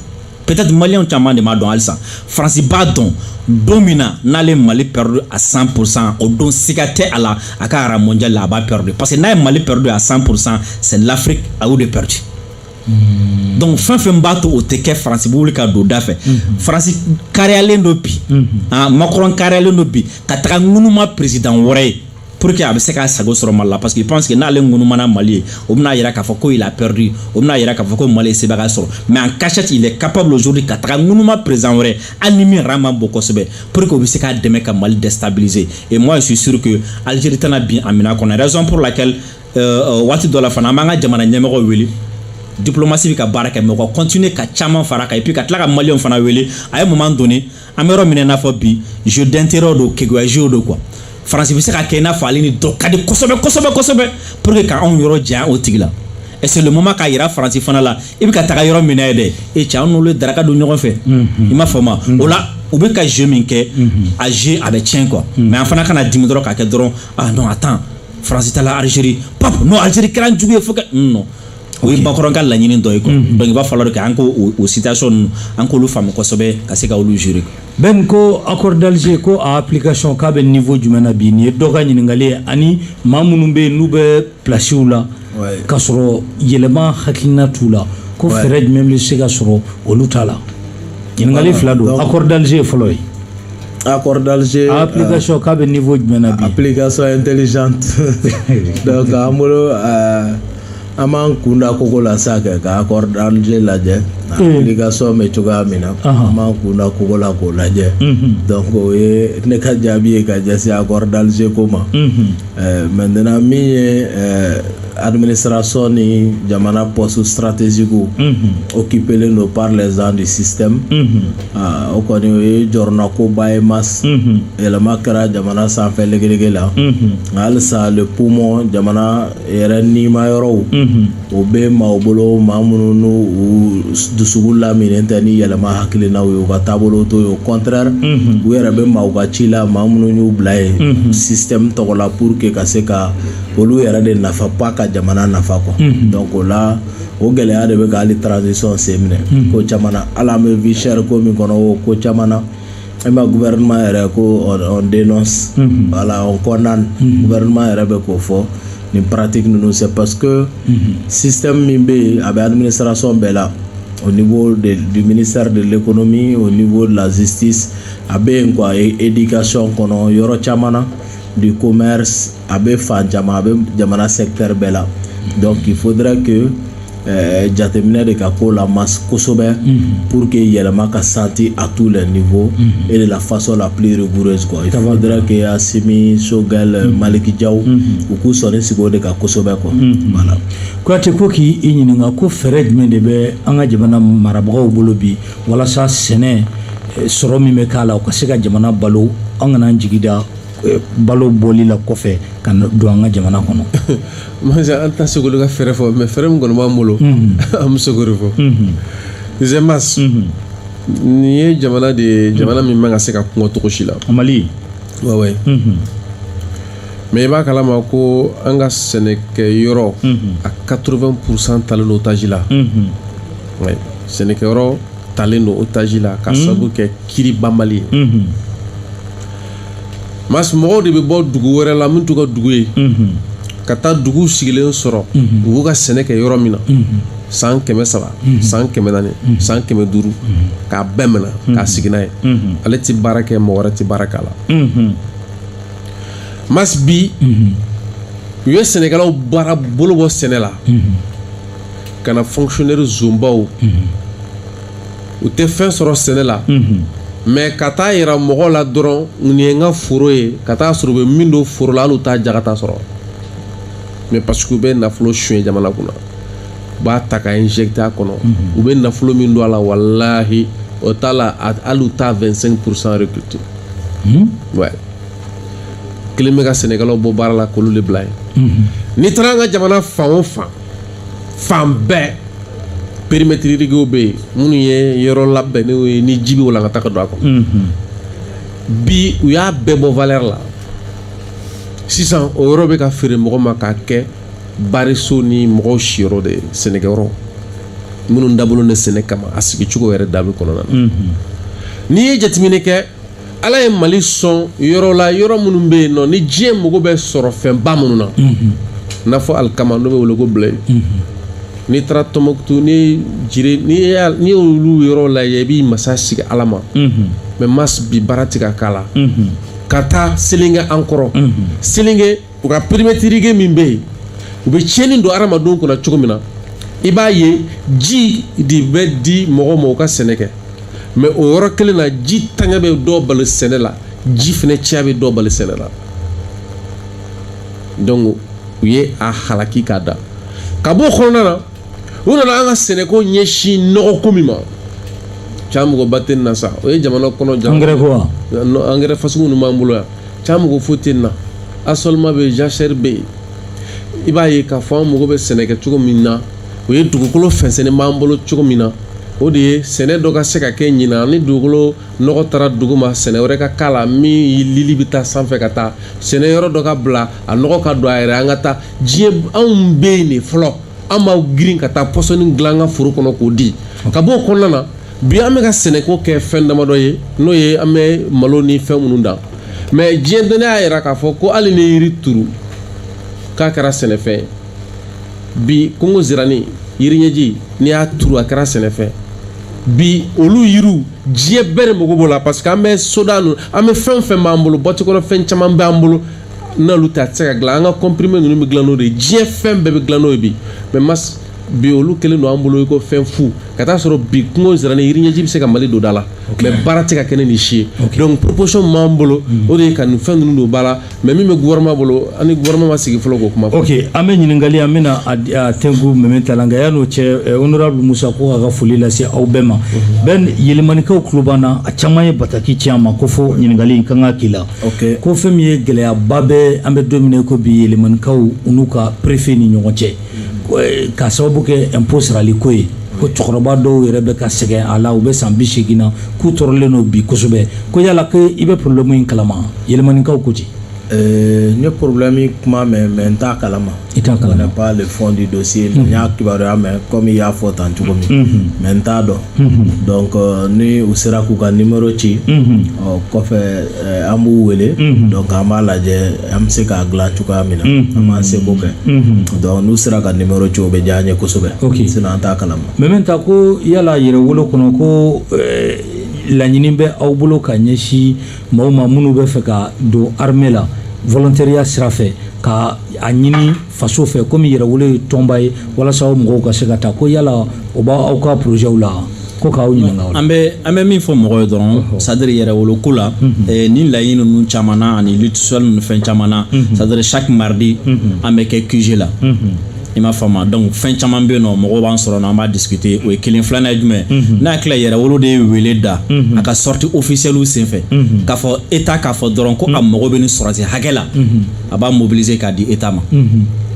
peut-être maliyɛnw caman de m'a dɔn halisa faransi b'a dɔn don min na n'ale ye mali perdu à 100 pour cent o don siga tɛ a la a ka rang mondial la a b'a perdu parce que n'a ye mali perdu à 100 pour cent c'est l'afrique a y'o de perdu Mm. donc fɛn fɛn b'a to o tɛ kɛ faransi bɛ wuli ka don da fɛ mm-hmm. faransi kariyalen don bi mm-hmm. ah, makɔrɔn kariyalen don bi ka taga ŋunuma peresidan wɛrɛ ye pour que a bɛ se k'a sago sɔrɔ mali la parce que pense que n'ale ŋunumana mali ye o bɛna yira k'a fɔ ko il a perdu o bɛna yira k'a fɔ ko mali ye sebagaya sɔrɔ mais en cachette il est capable aujourd'hui ka taga ŋunuma président wɛrɛ hali ni min yɛrɛ man bon kosɛbɛ pour que o bɛ se k'a dɛmɛ ka mali déstabiliser et moi je suis sûr que algérie tɛna bin a minɛ kɔnɔ raison pour laquelle waati dɔ la fana an b'an ka jamana ɲɛmɔgɔw wele diplomasi bɛ ka baara kɛ mais u ka continuer ka caman fara kan et puis ka tila ka maliyɛnw fana wele à un moment donné an bɛ yɔrɔ min na i n'a fɔ bi jeu d'intérêt don keguya jeu don quoi faransi bɛ se ka kɛ i n'a fɔ ale ni dɔ ka di kosɛbɛ kosɛbɛ kosɛbɛ pour que ka anw yɔrɔ janya o tigi la et c'est le moment k'a yira faransi fana la i bɛ ka taga yɔrɔ min na yen dɛ e cɛ an n'olu ye daraka dun ɲɔgɔn fɛ i m'a faamu o la u bɛ ka jeu min kɛ a jeu a bɛ tiɲɛ quoi mais an fana kana dimi dɔrɔn k'a kɛ dɔrɔn ah non attends Faransi taara alizeri bon alizeri kɛra jugu ye non non o ye makɔrɔn ka laɲini dɔ ye donc il va falloir que an ko o sida sɔn an k'olu faamu kosɛbɛ ka se ka olu zoiri bɛn nin ko accord d'Alger ko a application k'a bɛ niveau jumɛn na bi nin ye dɔ ka ɲininkali ye ani maa minnu bɛ yen n'u bɛ plasiw la ka sɔrɔ yɛlɛma hakilina t'u la ko fɛɛrɛ jumɛn bɛ se ka sɔrɔ olu ta la ɲininkali fila don accord d'Alger ye fɔlɔ ye A kɔrɔd kasɔn k'a bɛ nin fɔ jumɛn na bi ka sa in teliz an bolo an b'an kunda ko ko la sa kɛ ka kɔrɔd lajɛ ka sɔn bɛ cogoya min na an b'an kunda kogo la k'o lajɛ o ye ne ka jaabi ye ka jɛ kɔrɔdalize ko ma mɛten min ye administration ni jamana poste stratégique unhun occupelen don par les gens du système unhun ah, o kɔni o ye jɔrɔnakoba ye mas unhun yɛlɛma kɛra jamana sanfɛ legelege la unhun nka halisa le poumon jamana yɛrɛ nima yɔrɔw unhun o bɛ maaw bolo maa minnu n'u u dusukun laminen tɛ ni yɛlɛma hakilinaw ye u ka taabolo t'o ye au contraire unhun u yɛrɛ bɛ maaw ka ci la maa minnu y'u bila yen système tɔgɔ la pour que ka se ka olu yɛrɛ de nafa ba ka jamana nafa kɔ dɔn ko la o gɛlɛya de bɛ k'ale taararansisi sɔn sen minɛ ko caman ala an bɛ vsiri ko min kɔnɔ o ko caman na e ma guma yɛrɛ ko den wala kɔnɔna guma yɛrɛ bɛ k'o fɔ nin parati ninnu se pa que sisan min bɛ yen a bɛ sarason bɛɛ la o ni minisari de le kɔnɔ min o ni lazsi a bɛ yen ko a ye edi kasɔnon kɔnɔ yɔrɔ caman na du commerce a bɛ fan caman a bɛ jamana secteur bɛɛ la donc il faudrait que euh, jateminɛ de ka k'o la mas kosɛbɛ pour que yɛlɛma ka santi à tous les niveaux et de la façon la plus rigoureuse quoi il faudrait que Assimi Choguel euh, Malick Diaw u k'u sɔnin sigi o de kan kosɛbɛ quoi voilà Kuyate ko k'i ɲininka ko fɛɛrɛ jumɛn de bɛ an ka jamana marabagaw bolo bi walasa sɛnɛ eh, sɔrɔ min bɛ k'a la o ka se ka jamana balo an kana an jigi da balo bɔli la kɔfɛ ka don an ka jamana kɔnɔ mas an tɛ se k'u ka fɛɛrɛ fɔ mais fɛɛrɛ min kɔni b'an bolo an bɛ se k'o fɔ mas nin ye jamana de ye jamana min man ka se ka kɔngɔ cogo si la Mali wa mais i b'a kalama ko an ka sɛnɛkɛ yɔrɔ a quatre-vingts pour cent talen don otage la sɛnɛkɛ yɔrɔ talen don otage la ka sabu kɛ kiiri banbali ye mas mɔgɔw de bɛ bɔ dugu wɛrɛ la min t'u ka dugu ye ka taa dugu sigilen sɔrɔ u ka sɛnɛ kɛ yɔrɔ min na san kɛmɛ saba san kɛmɛ naani san kɛmɛ duuru k'a bɛɛ minɛ k'a sigi a ye ale tɛ baara kɛ mɔgɔ wɛrɛ tɛ baara k'a la mas bi u ye sɛnɛkɛlaw baara bolo bɔ sɛnɛ la ka na fonctionnaire zonbaw u tɛ fɛn sɔrɔ sɛnɛ la mais ka t'a jira mɔgɔ la dɔrɔn nin ye n ka foro ye ka taa sɔrɔ u bɛ min don foro la ali u t'a jagata sɔrɔ mais parce que u bɛ nafolo sonyɛ jamana kɔnɔ u b'a ta k'a injecté a kɔnɔ u bɛ nafolo min don a la walahi o t'a la ali u t'a vingt-cinq pour cent récolté kelen bɛ ka sɛnɛkɛlaw bɔ baara la k'olu de bila yen n'i taara an ka jamana fan o fan fan bɛɛ périmètre irriguéw bɛ yen minnu ye yɔrɔ labɛnnenw ye ni ji bɛ walankata ka don a kɔnɔ bi u y'a bɛɛ bɔ valeur la sisan o yɔrɔ bɛ ka feere mɔgɔ ma k'a kɛ bariso ni mɔgɔw siyɔrɔ de ye sɛnɛkɛyɔrɔ minnu dabɔlen don sɛnɛ kama a sigi cogo yɛrɛ dabi kɔnɔna na n'i ye jateminɛ kɛ ala ye mali sɔn yɔrɔ la yɔrɔ minnu bɛ yen nɔ ni diɲɛ mago bɛ sɔrɔ fɛnba minnu na n'a fɔ alikama n'o bɛ wele ko blé n'i taara tɔnmɔkutu ni dire n'i y'olu yɔrɔ lajɛ i b'i masa sigi ala ma mais ma bi baara tɛ ka k'a la ka taa selenge an kɔrɔ selenge u ka périmètre irrigué min bɛ yen u bɛ tiɲɛni don adamadenw kunna cogo min na i b'a ye ji de bɛ di mɔgɔw ma u ka sɛnɛ kɛ mais o yɔrɔ kelen na ji ntanya bɛ dɔ bali sɛnɛ la ji fana caya bɛ dɔ bali sɛnɛ la donc u ye a halaki k'a da ka bɔ o kɔnɔna na u nana an ka sɛnɛko ɲɛsin nɔgɔko min ma ca mɔgɔba tɛ na sa o ye jamana kɔnɔ angɛrɛ fasiw ninnu b'an bolo yan ca mɔgɔ fo tɛ na a sɔlima bɛ jasɛri bɛ yen i b'a ye k'a fɔ an mago bɛ sɛnɛkɛ cogo min na o ye dugukolo fɛnsɛn b'an bolo cogo min na o de ye sɛnɛ dɔ ka se ka kɛ ɲinan ni dugukolo nɔgɔ taara dugu ma sɛnɛ wɛrɛ ka k'a la min lili bɛ taa sanfɛ ka taa sɛnɛ yɔrɔ dɔ ka bila a nɔgɔ ka don a yɛrɛ an ka ta diɲɛ anw bɛ yen de fɔlɔ an b'an girin ka taa pɔsɔni bila an ka foro kɔnɔ k'o di ka bɔ o kɔnɔna na bi an bɛ ka sɛnɛko kɛ fɛn damadɔ ye n'o ye an bɛ malo ni fɛn minnu dan mais diɲɛ dɔnni y'a jira k'a fɔ ko hali n'i ye yiri turu k'a kɛra sɛnɛfɛn bi kungo zirani yiri ɲɛji n'i y'a turu a kɛra sɛnɛfɛn bi olu yiriw diɲɛ bɛɛ de mago b'o la parce que an bɛ soda ninnu an bɛ fɛn o fɛn b'an bolo butiki kɔnɔ fɛn caman b'an bolo n'olu tɛ a tɛ se ka dilan an ka comprimé ninnu bɛ dilan n'o de ye diɲɛ fɛn bɛɛ bɛ dilan n'o ye bi mais mas bi olu kɛlen don an bolo i ko fɛn fu ka taa sɔrɔ bi kungo nsirani yiri ɲɛji bɛ se ka mali don da la mais baara tɛ ka kɛ ni nin si ye donc proposition min b'an bolo o de ye ka nin fɛn ninnu don ba la mais min bɛ gouvernement bolo an ni gouvernement ma sigi fɔlɔ k'o kuma fɔ ok an bɛ ɲininkali an bɛna a di- a tɛnku mɛmɛ ta la nka yan'o cɛ eh, honorable musa ko k'a ka foli lase aw bɛɛ ma bɛn yelimanikaw tulo b'an na a caman ye bataki ci an ma ko fo ɲininkali in ka kan ka k'i la okay. ko fɛn min ye gɛlɛyaba bɛ an bɛ don min na ko bi yɛlɛmanikaw n'u ka perefe ni ɲɔgɔn cɛ eh, ka sababu kɛ impôt sarali ko ye ko cɛkɔrɔba dɔw yɛrɛ bɛ ka sɛgɛn a la u bɛ san bi seegin na k'u tɔɔrɔlen don bi kosɛbɛ ko yala ko i bɛ porobilɛmu in kalama yɛlɛmanikaw ko ten eh, n ye porobilɛmu kuma mɛn mais n t'a kalama i t'a kalama n'ai pas le fond du dossier n y'a kibaruya mɛn comme i y'a fɔ tan cogo min mais n t'a dɔn donc euh, ni u sera k'u ka numéro ci o kɔfɛ euh, an b'u wele donc an b'a lajɛ an bɛ se k'a dilan cogoya min na an b'an seko kɛ donc n'u sera ka numéro ci o bɛ diya an ye kosɛbɛ Ok. sinon an t'a kalama mɛ mɛ ta ko yala Yɛrɛwolo kɔnɔ ko eh, laɲini bɛ aw bolo ka ɲɛsin Maaw ma minnu b'a fɛ ka don armée la volontariya sira fɛ ka a ɲini faso fɛ komi Yɛrɛwolo ye tɔnba ye walasa mɔgɔw ka se ka taa ko yala o b'aw ka projetw la ko k'aw ɲininka an bɛ an bɛ min fɔ mɔgɔ ye dɔrɔn c'est-à-dire Yɛrɛwolo ko la ni laɲini ninnu caman ani tisli ninnu fɛn caman c'est-à-dire chaque mardi an bɛ kɛ QG la i m'a faamu donc fɛn caman bɛ yen nɔ mɔgɔw b'an sɔrɔ nɔ an b'a discuter o ye kelen filanan ye jumɛn mhm. ne hakili la Yɛrɛwolo de ye wele da mhm. a ka sortie officielle senfɛ mhm. k'a fɔ État k'a fɔ dɔrɔn ko a mago bɛ nin sɔrɔdasi hakɛ la a b'a mobiliser k'a di État ma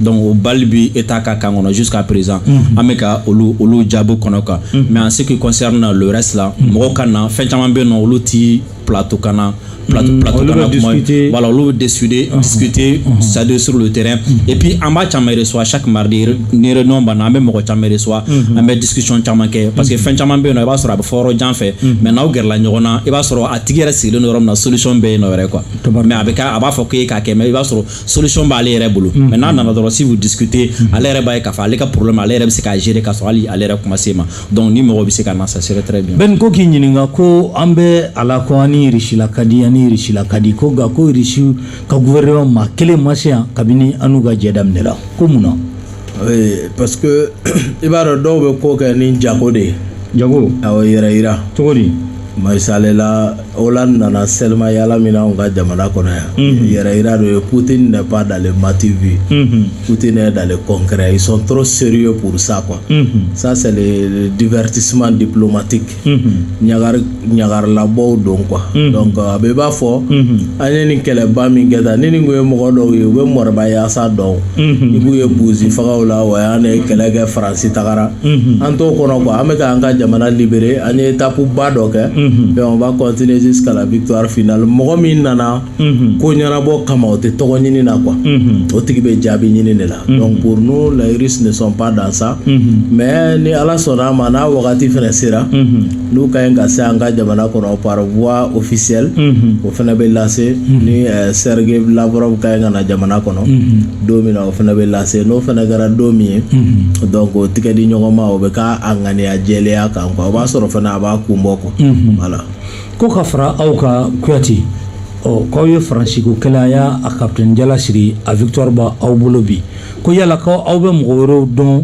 donc o balle bi État ka camp kɔnɔ jusqu'à présent an bɛ ka olu olu jaabi kɔnɔ kan mais en ce qui concerne le reste là mɔgɔw ka na fɛn caman bɛ yen nɔ olu ti plateau kan na plateau mm, plateau kan na kuma voilà olu bɛ discuter uh-huh. discuter uh-huh. c'est-à-dire sur le terrain uh-huh. et puis an b'a caman reçoit chaque mardi ni réunion banna an bɛ mɔgɔ caman reçoit an bɛ discussion caman kɛ parce que fɛn caman bɛ yen nɔ i b'a sɔrɔ a bɛ fɔ yɔrɔ jan fɛ mais n'aw gɛrɛla ɲɔgɔn na i b'a sɔrɔ a tigi yɛrɛ sigilen don yɔrɔ min na solution bɛ yen nɔ yɛrɛ quoi mais a bɛ kɛ a b'a fɔ k'e k'a kɛ mais i b'a sɔrɔ solution b'ale yɛrɛ bolo mais n'a nana dɔrɔn si vous discutez ale yɛrɛ b'a ye k'a fɔ ale ka problème ale yɛrɛ bɛ se k'a gérer k'a sɔrɔ hali ale yɛrɛ kuma se ma donc ni mɔgɔ bɛ se ka na ça serait très bien Ben ko k'i ɲininka ko an bɛ a la ko an ni Irisila ka di an ni Irisila ka di ko nka ko irisi ka gouvernement maa kelen ma se yan kabini an n'u ka jɛ daminɛra ko mun na oui parce que i b'a dɔn dɔw bɛ ko kɛ ni jago de ye jago awɔ yɛrɛyira cogo di misali la Hollande nana sennayaala la min anw ka jamana kɔnɔ yan yɛrɛyira dɔ ye Poutine n'est pas dans le m'as-tu-vu Poutine est dans le concret ils sont des gens trop sérieux parce que ça divertissement diplomatique ɲagari ɲagarilabɔ don quoi a bɛ i b'a fɔ an ye nin kɛlɛba min kɛ da ni nin ye mɔgɔ dɔw ye u bɛ mɔgɔbayaasa dɔn i b'u ye bozefaw la wa y' kɛlɛkɛ fara c'est-à-dire an t'o kɔnɔ quoi an bɛ ka an ka jamana libérer an ye étape ba dɔ kɛ on va continuer jusqu'à la victoire finale mɔgɔ min nana ko ɲɛnabɔ kama o tɛ tɔgɔ ɲini na quoi o tigi bɛ jaabi ɲini de la donc pour nous les Russes ne sont pas dans ça mais ni ala sɔnna a ma n'a wagati fana sera n'u ka ɲi ka se an ka jamana kɔnɔ par voie officielle o fana bɛ lase ni Serge Lavrov ka ɲi ka na jamana kɔnɔ don min na o fana bɛ lase n'o fana kɛra don min ye donc o tɛgɛ di ɲɔgɔn ma o bɛ kɛ ŋaniya jɛlenya kan quoi o b'a sɔrɔ fana a b'a kun bɔ quoi voilà ko ka fara aw kan kuyate ɔ k'aw ye faransi ko kɛlɛ a y'a a kapitɛni jala siri a victoire b'aw bolo bi ko yala ko aw bɛ mɔgɔ wɛrɛw dɔn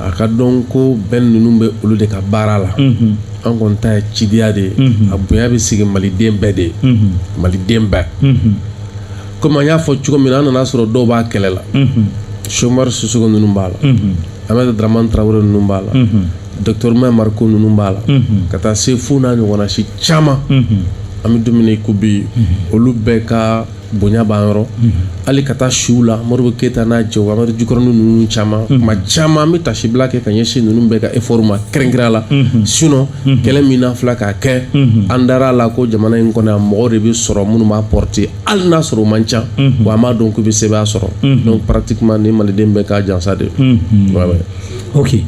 a k'a dɔn ko bɛn ninnu bɛ olu de ka baara la an kɔni ta ye cidenya de ye a bonya bɛ sigi maliden bɛɛ de ye maliden bɛɛ kɔmi an y'a fɔ cogo min na an nana sɔrɔ dɔw b'a kɛlɛ la sɛki umaru sisoko ninnu b'a la aminata daramani tarawele ninnu b'a la docteur umaru mariko ninnu b'a la ka taa se fo n'a ɲɔgɔnna si caman an bɛ don min na ko bi olu bɛɛ ka bonya b'an yɔrɔ hali ka taa se a la modibo keyita n'a cɛ wari jukɔrɔn ninnu caman ma caman bɛ taasibila kɛ ka ɲɛsin ninnu bɛɛ ka effort ma kɛrɛnkɛrɛnna la sinon kɛlɛ min an filɛ k'a kɛ an dara a la ko jamana in kɔnɔ mɔgɔ de bɛ sɔrɔ minnu b'a porter hali n'a sɔrɔ u man ca wa an b'a dɔn k'u bɛ sebaaya sɔrɔ donc parati ni maliden bɛɛ ka jansa de oke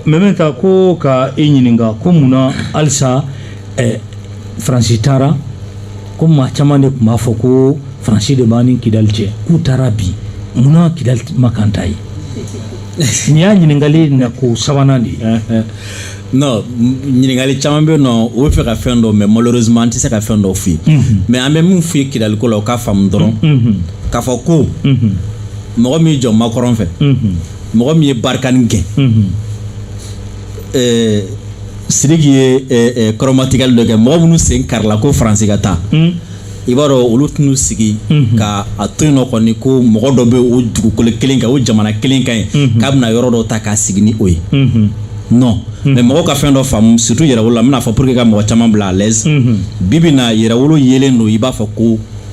mɛ bɛ taa ko ka e ɲininka ko munna halisa faransi taara ko maa caman de tun b'a fɔ ko faransi de b'a ni kidali cɛ k'u taara bi munna kidali mankan tɛ yen nin y'a ɲininkali na ko sabanan de ye non ɲininkali caman bɛ yen nɔ u b'a fɛ ka fɛn dɔn mais malheureusement an tɛ se ka fɛn dɔ f'u ye mais an bɛ min f'u ye kidaliko la u k'a faamu dɔrɔn k'a fɔ ko mɔgɔ min jɔ makɔrɔn fɛ mɔgɔ min ye barikani gɛn ɛɛ sidiki ye kɔrɔmatigɛli dɔ kɛ mɔgɔ minnu sen karila ko faransi ka taa hmm. i b'a dɔn olu tɛna sigi hmm. ka a to yen nɔ kɔni ko mɔgɔ dɔ bɛ o dugukolo kelen kan o jamana kelen kan yen hmm. k'a bɛna yɔrɔ dɔ ta k'a sigi ni o ye non mais mɔgɔw ka fɛn dɔ faamu surtout yɛrɛwolo la n bɛna a fɔ pour que ka mɔgɔ caman bila à l'aise bi bi na yɛrɛwolo yelen don i b'a fɔ ko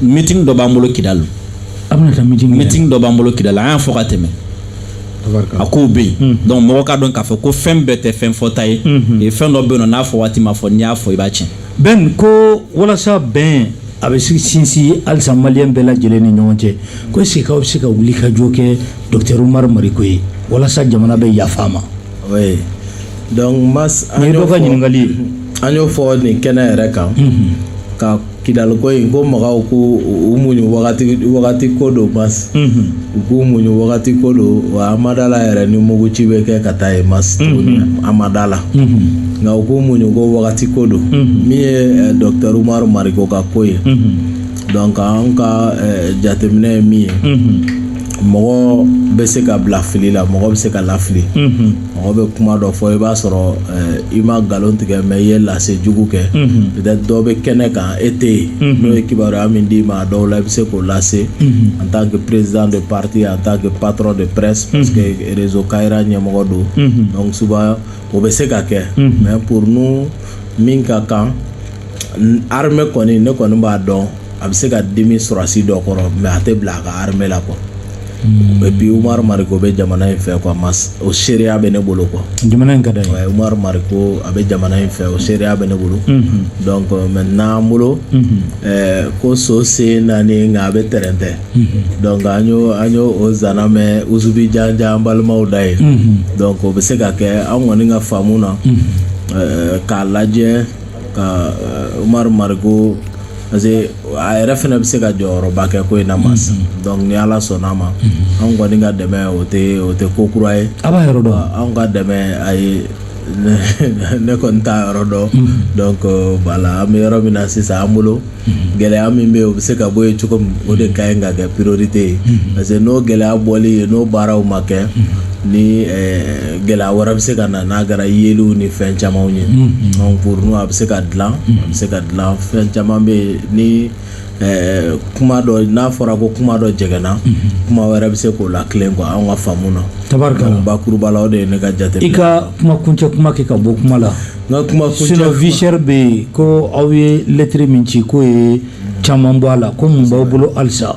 meeting dɔ b'an bolo Kidali a bɛna taa meeting meeting dɔ b'an bolo Kidali an y'a fɔ ka tɛmɛ a kow bɛ yen hmm. donc mɔgɔ k'a dɔn k'a fɔ ko fɛn bɛɛ tɛ fɛn fɔta ye hmm. fɛn dɔ bɛ yen nɔ n'a fɔ waati ma fɔ n'i y'a fɔ i b'a tiɲɛ bɛn ko walasa bɛn a bɛ sinsin halisa maliyɛn bɛɛ lajɛlen ni ɲɔgɔn cɛ ko est ce que k'aw bɛ se ka wuli ka jɔ kɛ docteur umaru mariko ye walasa jamana bɛ yafa a ma oui donc mais an y'o fɔ an y'o fɔ nin kɛnɛ yɛrɛ kan ka kidali ko in ko mɔgɔw k'u muɲu wagati wagati ko don mais u k'u muɲu wagati ko don wa an ma da a la yɛrɛ ni mugu ci bɛ kɛ ka taa yen mais tuguni an ma da a la nka u k'u muɲu ko wagati ko don min ye docteur umaru mariko ka ko ye donc an ka jateminɛ ye min ye mɔgɔ bɛ se ka bila fili la mɔgɔ bɛ se ka lafili mɔgɔ bɛ kuma dɔ fɔ i b'a sɔrɔ eh, i ma nkalon tigɛ mais i ye lase jugu kɛ peut-être dɔ bɛ kɛnɛ kan e tɛ yen n'o ye kibaruya min d'i ma a dɔw la i bɛ se k'o lase en tant que président de parti en tant que patron de presse parce que réseau Kayira ɲɛmɔgɔ don donc souvent o bɛ se ka kɛ mais pour nous min ka kan n- armée kɔni ne kɔni b'a dɔn a bɛ se ka dimi sɔrɔdasi dɔ kɔrɔ mais a tɛ bila a ka armée la quoi et puis Umaru Mariko bɛ jamana in fɛ quoi o seereya bɛ ne bolo quoi jamana in ka da Umaru Mariko a bɛ jamana in fɛ o seereya bɛ ne bolo maintenant an bolo ko so sen naani nka a bɛ tɛrɛntɛ an an o zan mɛ usubi jan an balimaw da ye o bɛ se ka kɛ an kɔni ka faamu na k'a lajɛ ka Umaru Mariko parce que a yɛrɛ fana bɛ se ka jɔyɔrɔba kɛ ko in na ma sisan mm-hmm. donc ni Ala sɔnna a ma mm-hmm. anw kɔni ka dɛmɛ o tɛ o tɛ ko kura ye a b'a yɔrɔ dɔn anw ka dɛmɛ a ye ne kɔni t'a yɔrɔ dɔn mm-hmm. donc euh, voilà an bɛ yɔrɔ min na sisan an bolo gɛlɛya min bɛ yen o bɛ se ka bɔ yen cogo min o de ka ɲi ka kɛ priorité ye parce que n'o gɛlɛya bɔli ye n'o baaraw ma kɛ ni eh, gɛlɛya wɛrɛ bɛ se ka na n'a kɛra yeliw ni fɛn camanw ye donc pour nous a bɛ se ka dilan a bɛ se ka dilan fɛn caman bɛ yen ni kuma dɔ n'a fɔra ko kuma dɔ jɛgɛnna kuma wɛrɛ bɛ se k'o latilen quoi an ka faamu na tabakuruba la o de ye ne ka jate i ka kuma kuncɛ kuma kɛ ka bɔ kuma la n ka kuma kuncɛ visɛri bɛ yen ko aw ye lɛtiri min ci k'o ye caman bɔ a la ko mun b'aw bolo halisa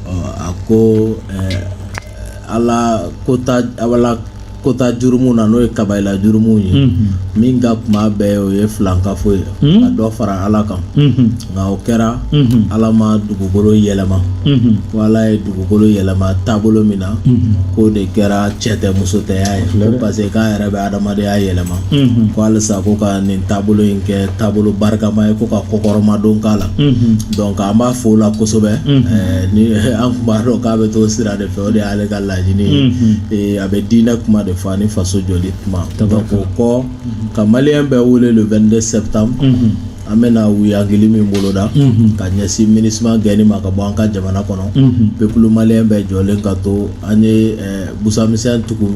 ɔ a ko ɛɛ Ala kota Ala kota jurumuw na n'o ye kabayila jurumuw ye min ka kunba bɛɛ ye o ye filankafo ye ka dɔ fara Ala kan nka o kɛra Ala ma dugukolo yɛlɛma ko Ala ye dugukolo yɛlɛma taabolo min na k'o de kɛra cɛtɛmusotɛya ye ko parce que k'a yɛrɛ bɛ adamadenya yɛlɛma ko halisa ko ka nin taabolo in kɛ taabolo barikama ye ko ka kɔkɔrɔmadon k'a la donc an b'a fɔ o la kosɛbɛ ni an tun b'a dɔn k'a bɛ t'o sira de fɛ o de y'ale ka laɲini ye a bɛ diinɛ kuma de fɔ ani faso jɔli kuma donc o kɔ ka malien bɛɛ wele le 22 septembre an bɛna wuyagili min boloda ka ɲɛsin MINUSMA gɛnni ma ka bɔ an ka jamana kɔnɔ peuple malien bɛɛ jɔlen ka to an ye busamisɛn tugu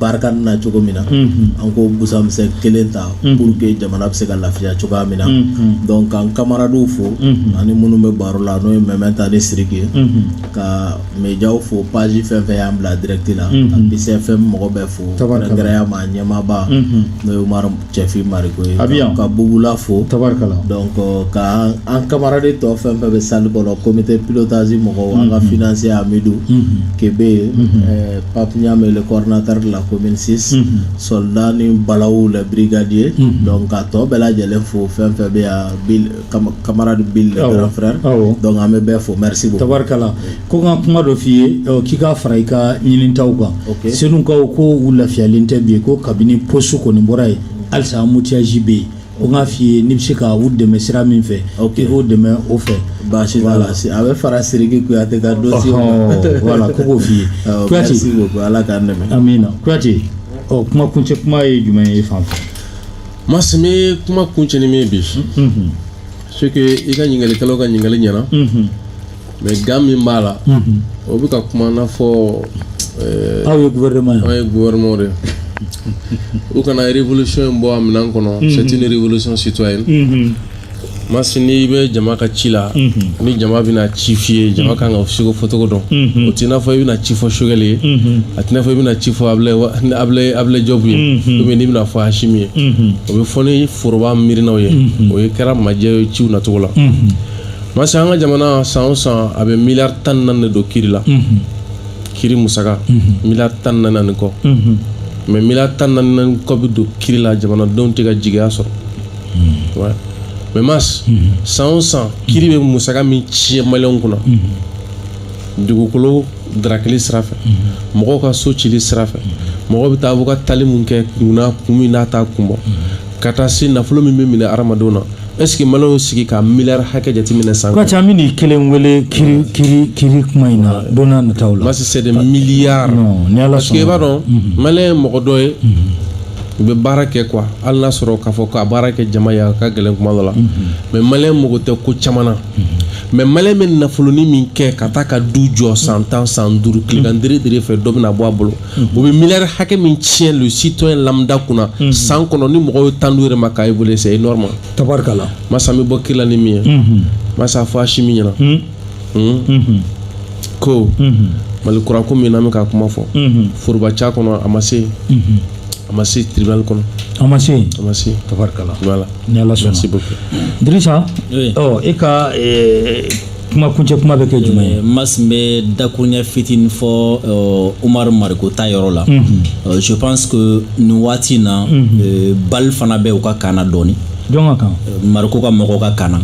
Barkhane na cogo min na an k'o busamisɛn kelen ta pour que jamana bɛ se ka lafiya cogoya min na donc ka n camarades fo ani minnu bɛ baro la n'o ye Mɛmɛnta ni Siriki ye ka médiaw fo page fɛn fɛn y'an bila direct la ka BCFM mɔgɔ bɛɛ fo kɛrɛnkɛrɛnya ma ɲɛmaaba n'o ye Umaru Cɛfin Mariko a bɛ ka bla fo tari ka an kamaradi tɔ fɛn fɛn bɛ salle kɔnɔ comité pilotage mɔgɔw an ka finance Amidu Kebe yen papiy'a mɛn coordinateur de la commune six soldat ni Balawu le brigadier donc a tɔ bɛɛ lajɛlen fo fɛn fɛn bɛ kamaradi Bill fɛ an bɛ bɛɛ fo mri tari Ko n ka kuma dɔ f'i ye k'i k'a fara i ka ɲinita kan Senukaw ko u lafiyalen tɛ bi yen ko kabini poste kɔni bɔra yen halisa mutiyasi bɛ yen o k'a f'i ye n'i bɛ se ka u dɛmɛ sira min fɛ k'u dɛmɛ o fɛ baasi a bɛ fara siriki kuyate ka don wala ko k'o f'i yeti ala k' min na kuyate ɔ kuma kuncɛ kuma ye jumɛn ye fan fɛ ma bɛ kuma kuncɛ in min bi so i ka ɲininkalikɛlaw ka ɲininkali ɲɛna mɛ gan min b'a la o bɛ ka kuma n'a fɔ eh, aw ye gouvernement ye an ye gouvernement de ye. u kana révolution in bɔ a minɛn kɔnɔ c'est une révolution citoyenne Mhm. masi n'i bɛ jama ka ci la ni jama bɛna ci f'i ye jama kan ka ciko fɔcogo dɔn Mhm. o t'i n'a fɔ i bɛna ci fɔ sogɛli ye Mhm. a t'i n'a fɔ i bɛna ci fɔ abulaye wa- ni abulaye abulaye jɔbu ye Mhm. ubiyɛn n'i bɛna fɔ asimi ye Mhm. o bɛ fɔ ni foroba miirinaw ye o ye kɛra majɛ ye ciw nacogo la Mhm. parce que an ka jamana san o san a bɛ miliyari tan ni naani de don kiri la kiri musaka miliyari tan ni naani kɔ mɛ miliyari tan ni naani kɔ bɛ don kiri la jamanadenw tɛ ka jigiya sɔrɔ ouais. mɛ mas san o san kiri bɛ musaka min tiɲɛ maliyɛnw kunna dugukolo darakili sira fɛ mɔgɔw ka so cili sira fɛ mɔgɔw bɛ taa u ka taali min kɛ kunna kun min n'a t'a kun bɔ ka taa se nafolo min bɛ minɛ hadamadenw na est-ce que maliyɛnw sigi k'a miliyari hakɛ jateminɛ san kɔnɔ. an bɛ nin kelen wele kiri kiri kiri kuma in na don n'a nataw la. masi c'est des milliards. parce que i b'a dɔn maliyɛn ye mɔgɔ dɔ ye. u bɛ baara kɛ quoi hali n'a sɔrɔ k'a fɔ k'a baara kɛ jama ye a ka gɛlɛn kuma dɔ la mɛ maliyɛn mago tɛ ko caman na mɛ maliyɛn bɛ nafoloni min kɛ ka taa ka du jɔ san tan san duuru tilegan dere dere fɛ dɔ bɛna a bɔ a bolo o bɛ miliyari hakɛ min tiɲɛ le citoyen lambda kunna san kɔnɔ ni mɔgɔw ye temps di u yɛrɛ ma k'a évaluer c'est énorme masi min bɛ bɔ kiri la ni min ye masi a fɔ asimi ɲɛna ko mali kura ko min n'an bɛ k'a kuma fɔ foroba ca kɔnɔ a ma se a ma se tribunal kɔnɔ a ma se a ma se tarikala ni ala sɔnna se bɛ fɛ disa e ka kuma kuncɛ kuma bɛ kɛ jumɛn ye mas n bɛ dakuruɲɛ fitinin fɔ umaru mariko ta yɔrɔ la je pense que nin waati in na balle fana bɛ u ka camp na dɔɔni jɔn ka camp mariko ka mɔgɔw ka camp na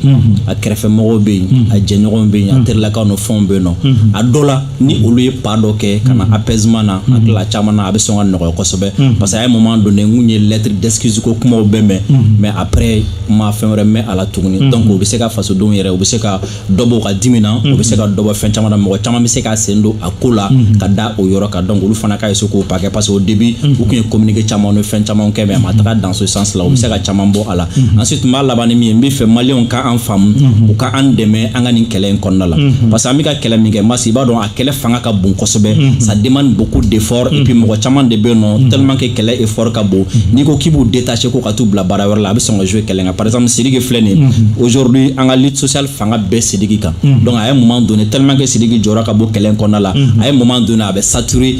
a kɛrɛfɛ mɔgɔw bɛ yen a jɛɲɔgɔn bɛ yen a terilakaw ni fɛnw bɛ yen nɔ a dɔ la ni olu ye pas dɔ kɛ ka na apaisement na a tila caman na a bɛ sɔn ka nɔgɔya kosɛbɛ parce que a ye moment donné n kun ye lettre d'excuse ko kumaw bɛɛ mɛn mais après ma fɛn wɛrɛ mɛn a la tuguni mm -hmm. donc o bɛ se ka fasodenw yɛrɛ u bɛ se ka dɔ bɔ u ka dimi na mm -hmm. u bɛ se ka dɔ bɔ fɛn caman na mɔgɔ caman bɛ se ka sen don a ko la mm -hmm. ka da o yɔrɔ kan donc olu fana ka se k'o pas kɛ parce que au début mm -hmm. u tun ye communiqué caman ni fɛn caman kɛ mais a ma taga dans ce sens là u bɛ se ka caman bɔ a la mm -hmm. ensuite n b'a laban ni min ye n b'a fɛ maliyɛnw ka an faamu mm -hmm. u ka an dɛmɛ an ka nin kɛlɛ in kɔnɔna la mm -hmm. parce que an bɛ ka kɛlɛ min kɛ masi i b'a dɔn a kɛlɛ fanga ka bon kosɛbɛ mhm. ça demande beaucoup d'effort et puis mhm. mɔgɔ caman de bɛ nɔ mhm. tellement que kɛlɛ effort ka bon n'i ko k'i b'u détacher ko ka t'u bila baara wɛrɛ la a bɛ sɔn ka jouer kɛlɛ kan par exemple Sidiki filɛ nin aujourd'hui an ka lutte sociale fanga bɛɛ Sidiki kan donc a ye moment donné tellement que Sidiki jɔyɔrɔ ka bon kɛlɛ kɔnɔna la a ye moment donné a bɛ saturer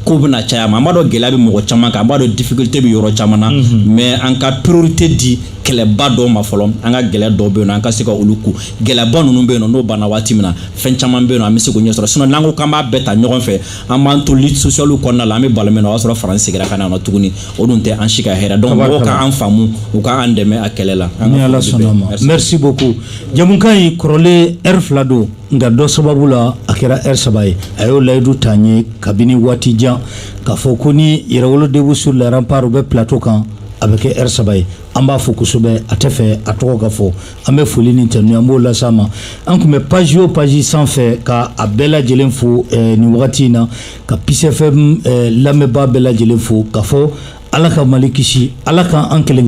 ko bɛna caya a ma an b'a dɔn gɛlɛya bɛ mɔgɔ caman kan an b'a dɔn difficulté bɛ yɔrɔ caman na mais an ka priorité di kɛlɛba dɔw ma fɔlɔ an ka gɛlɛya dɔw bɛ yen nɔ an ka se ka olu ko gɛlɛyaba ninnu bɛ yen nɔ n'o banna waati min na fɛn caman bɛ yen nɔ an bɛ se k'o ɲɛ sɔrɔ n'an ko k'an b'a bɛɛ ta ɲɔgɔn fɛ an b'an to lutte sociale kɔnɔna la an bɛ balo min na o y'a sɔrɔ faransi segira ka na nɔ tuguni o dun tɛ an si ka hɛrɛ donc mɔgɔw k'an faamu u k'an dɛmɛ a kɛlɛ la ni ala sɔnna a ma merci beaucoup jɛmukan in kɔrɔlen heure fila don nka dɔ sababu la a kɛra heure saba ye a y'o layidu ta n ye kabini waati jan k'a fɔ ko ni yɛrɛwolo debout sur les remparts u bɛ plateau kan a bɛ kɛ heure saba ye an b'a fo kosɛbɛ a tɛ fɛ a tɔgɔ ka fɔ An bɛ foli ni tanuni an b'o lase a ma an tun bɛ page o page sanfɛ ka a bɛɛ lajɛlen fo nin wagati in na ka Peace FM lamɛnbaa bɛɛ lajɛlen fo ka fɔ ala ka mali kisi ala ka an kelen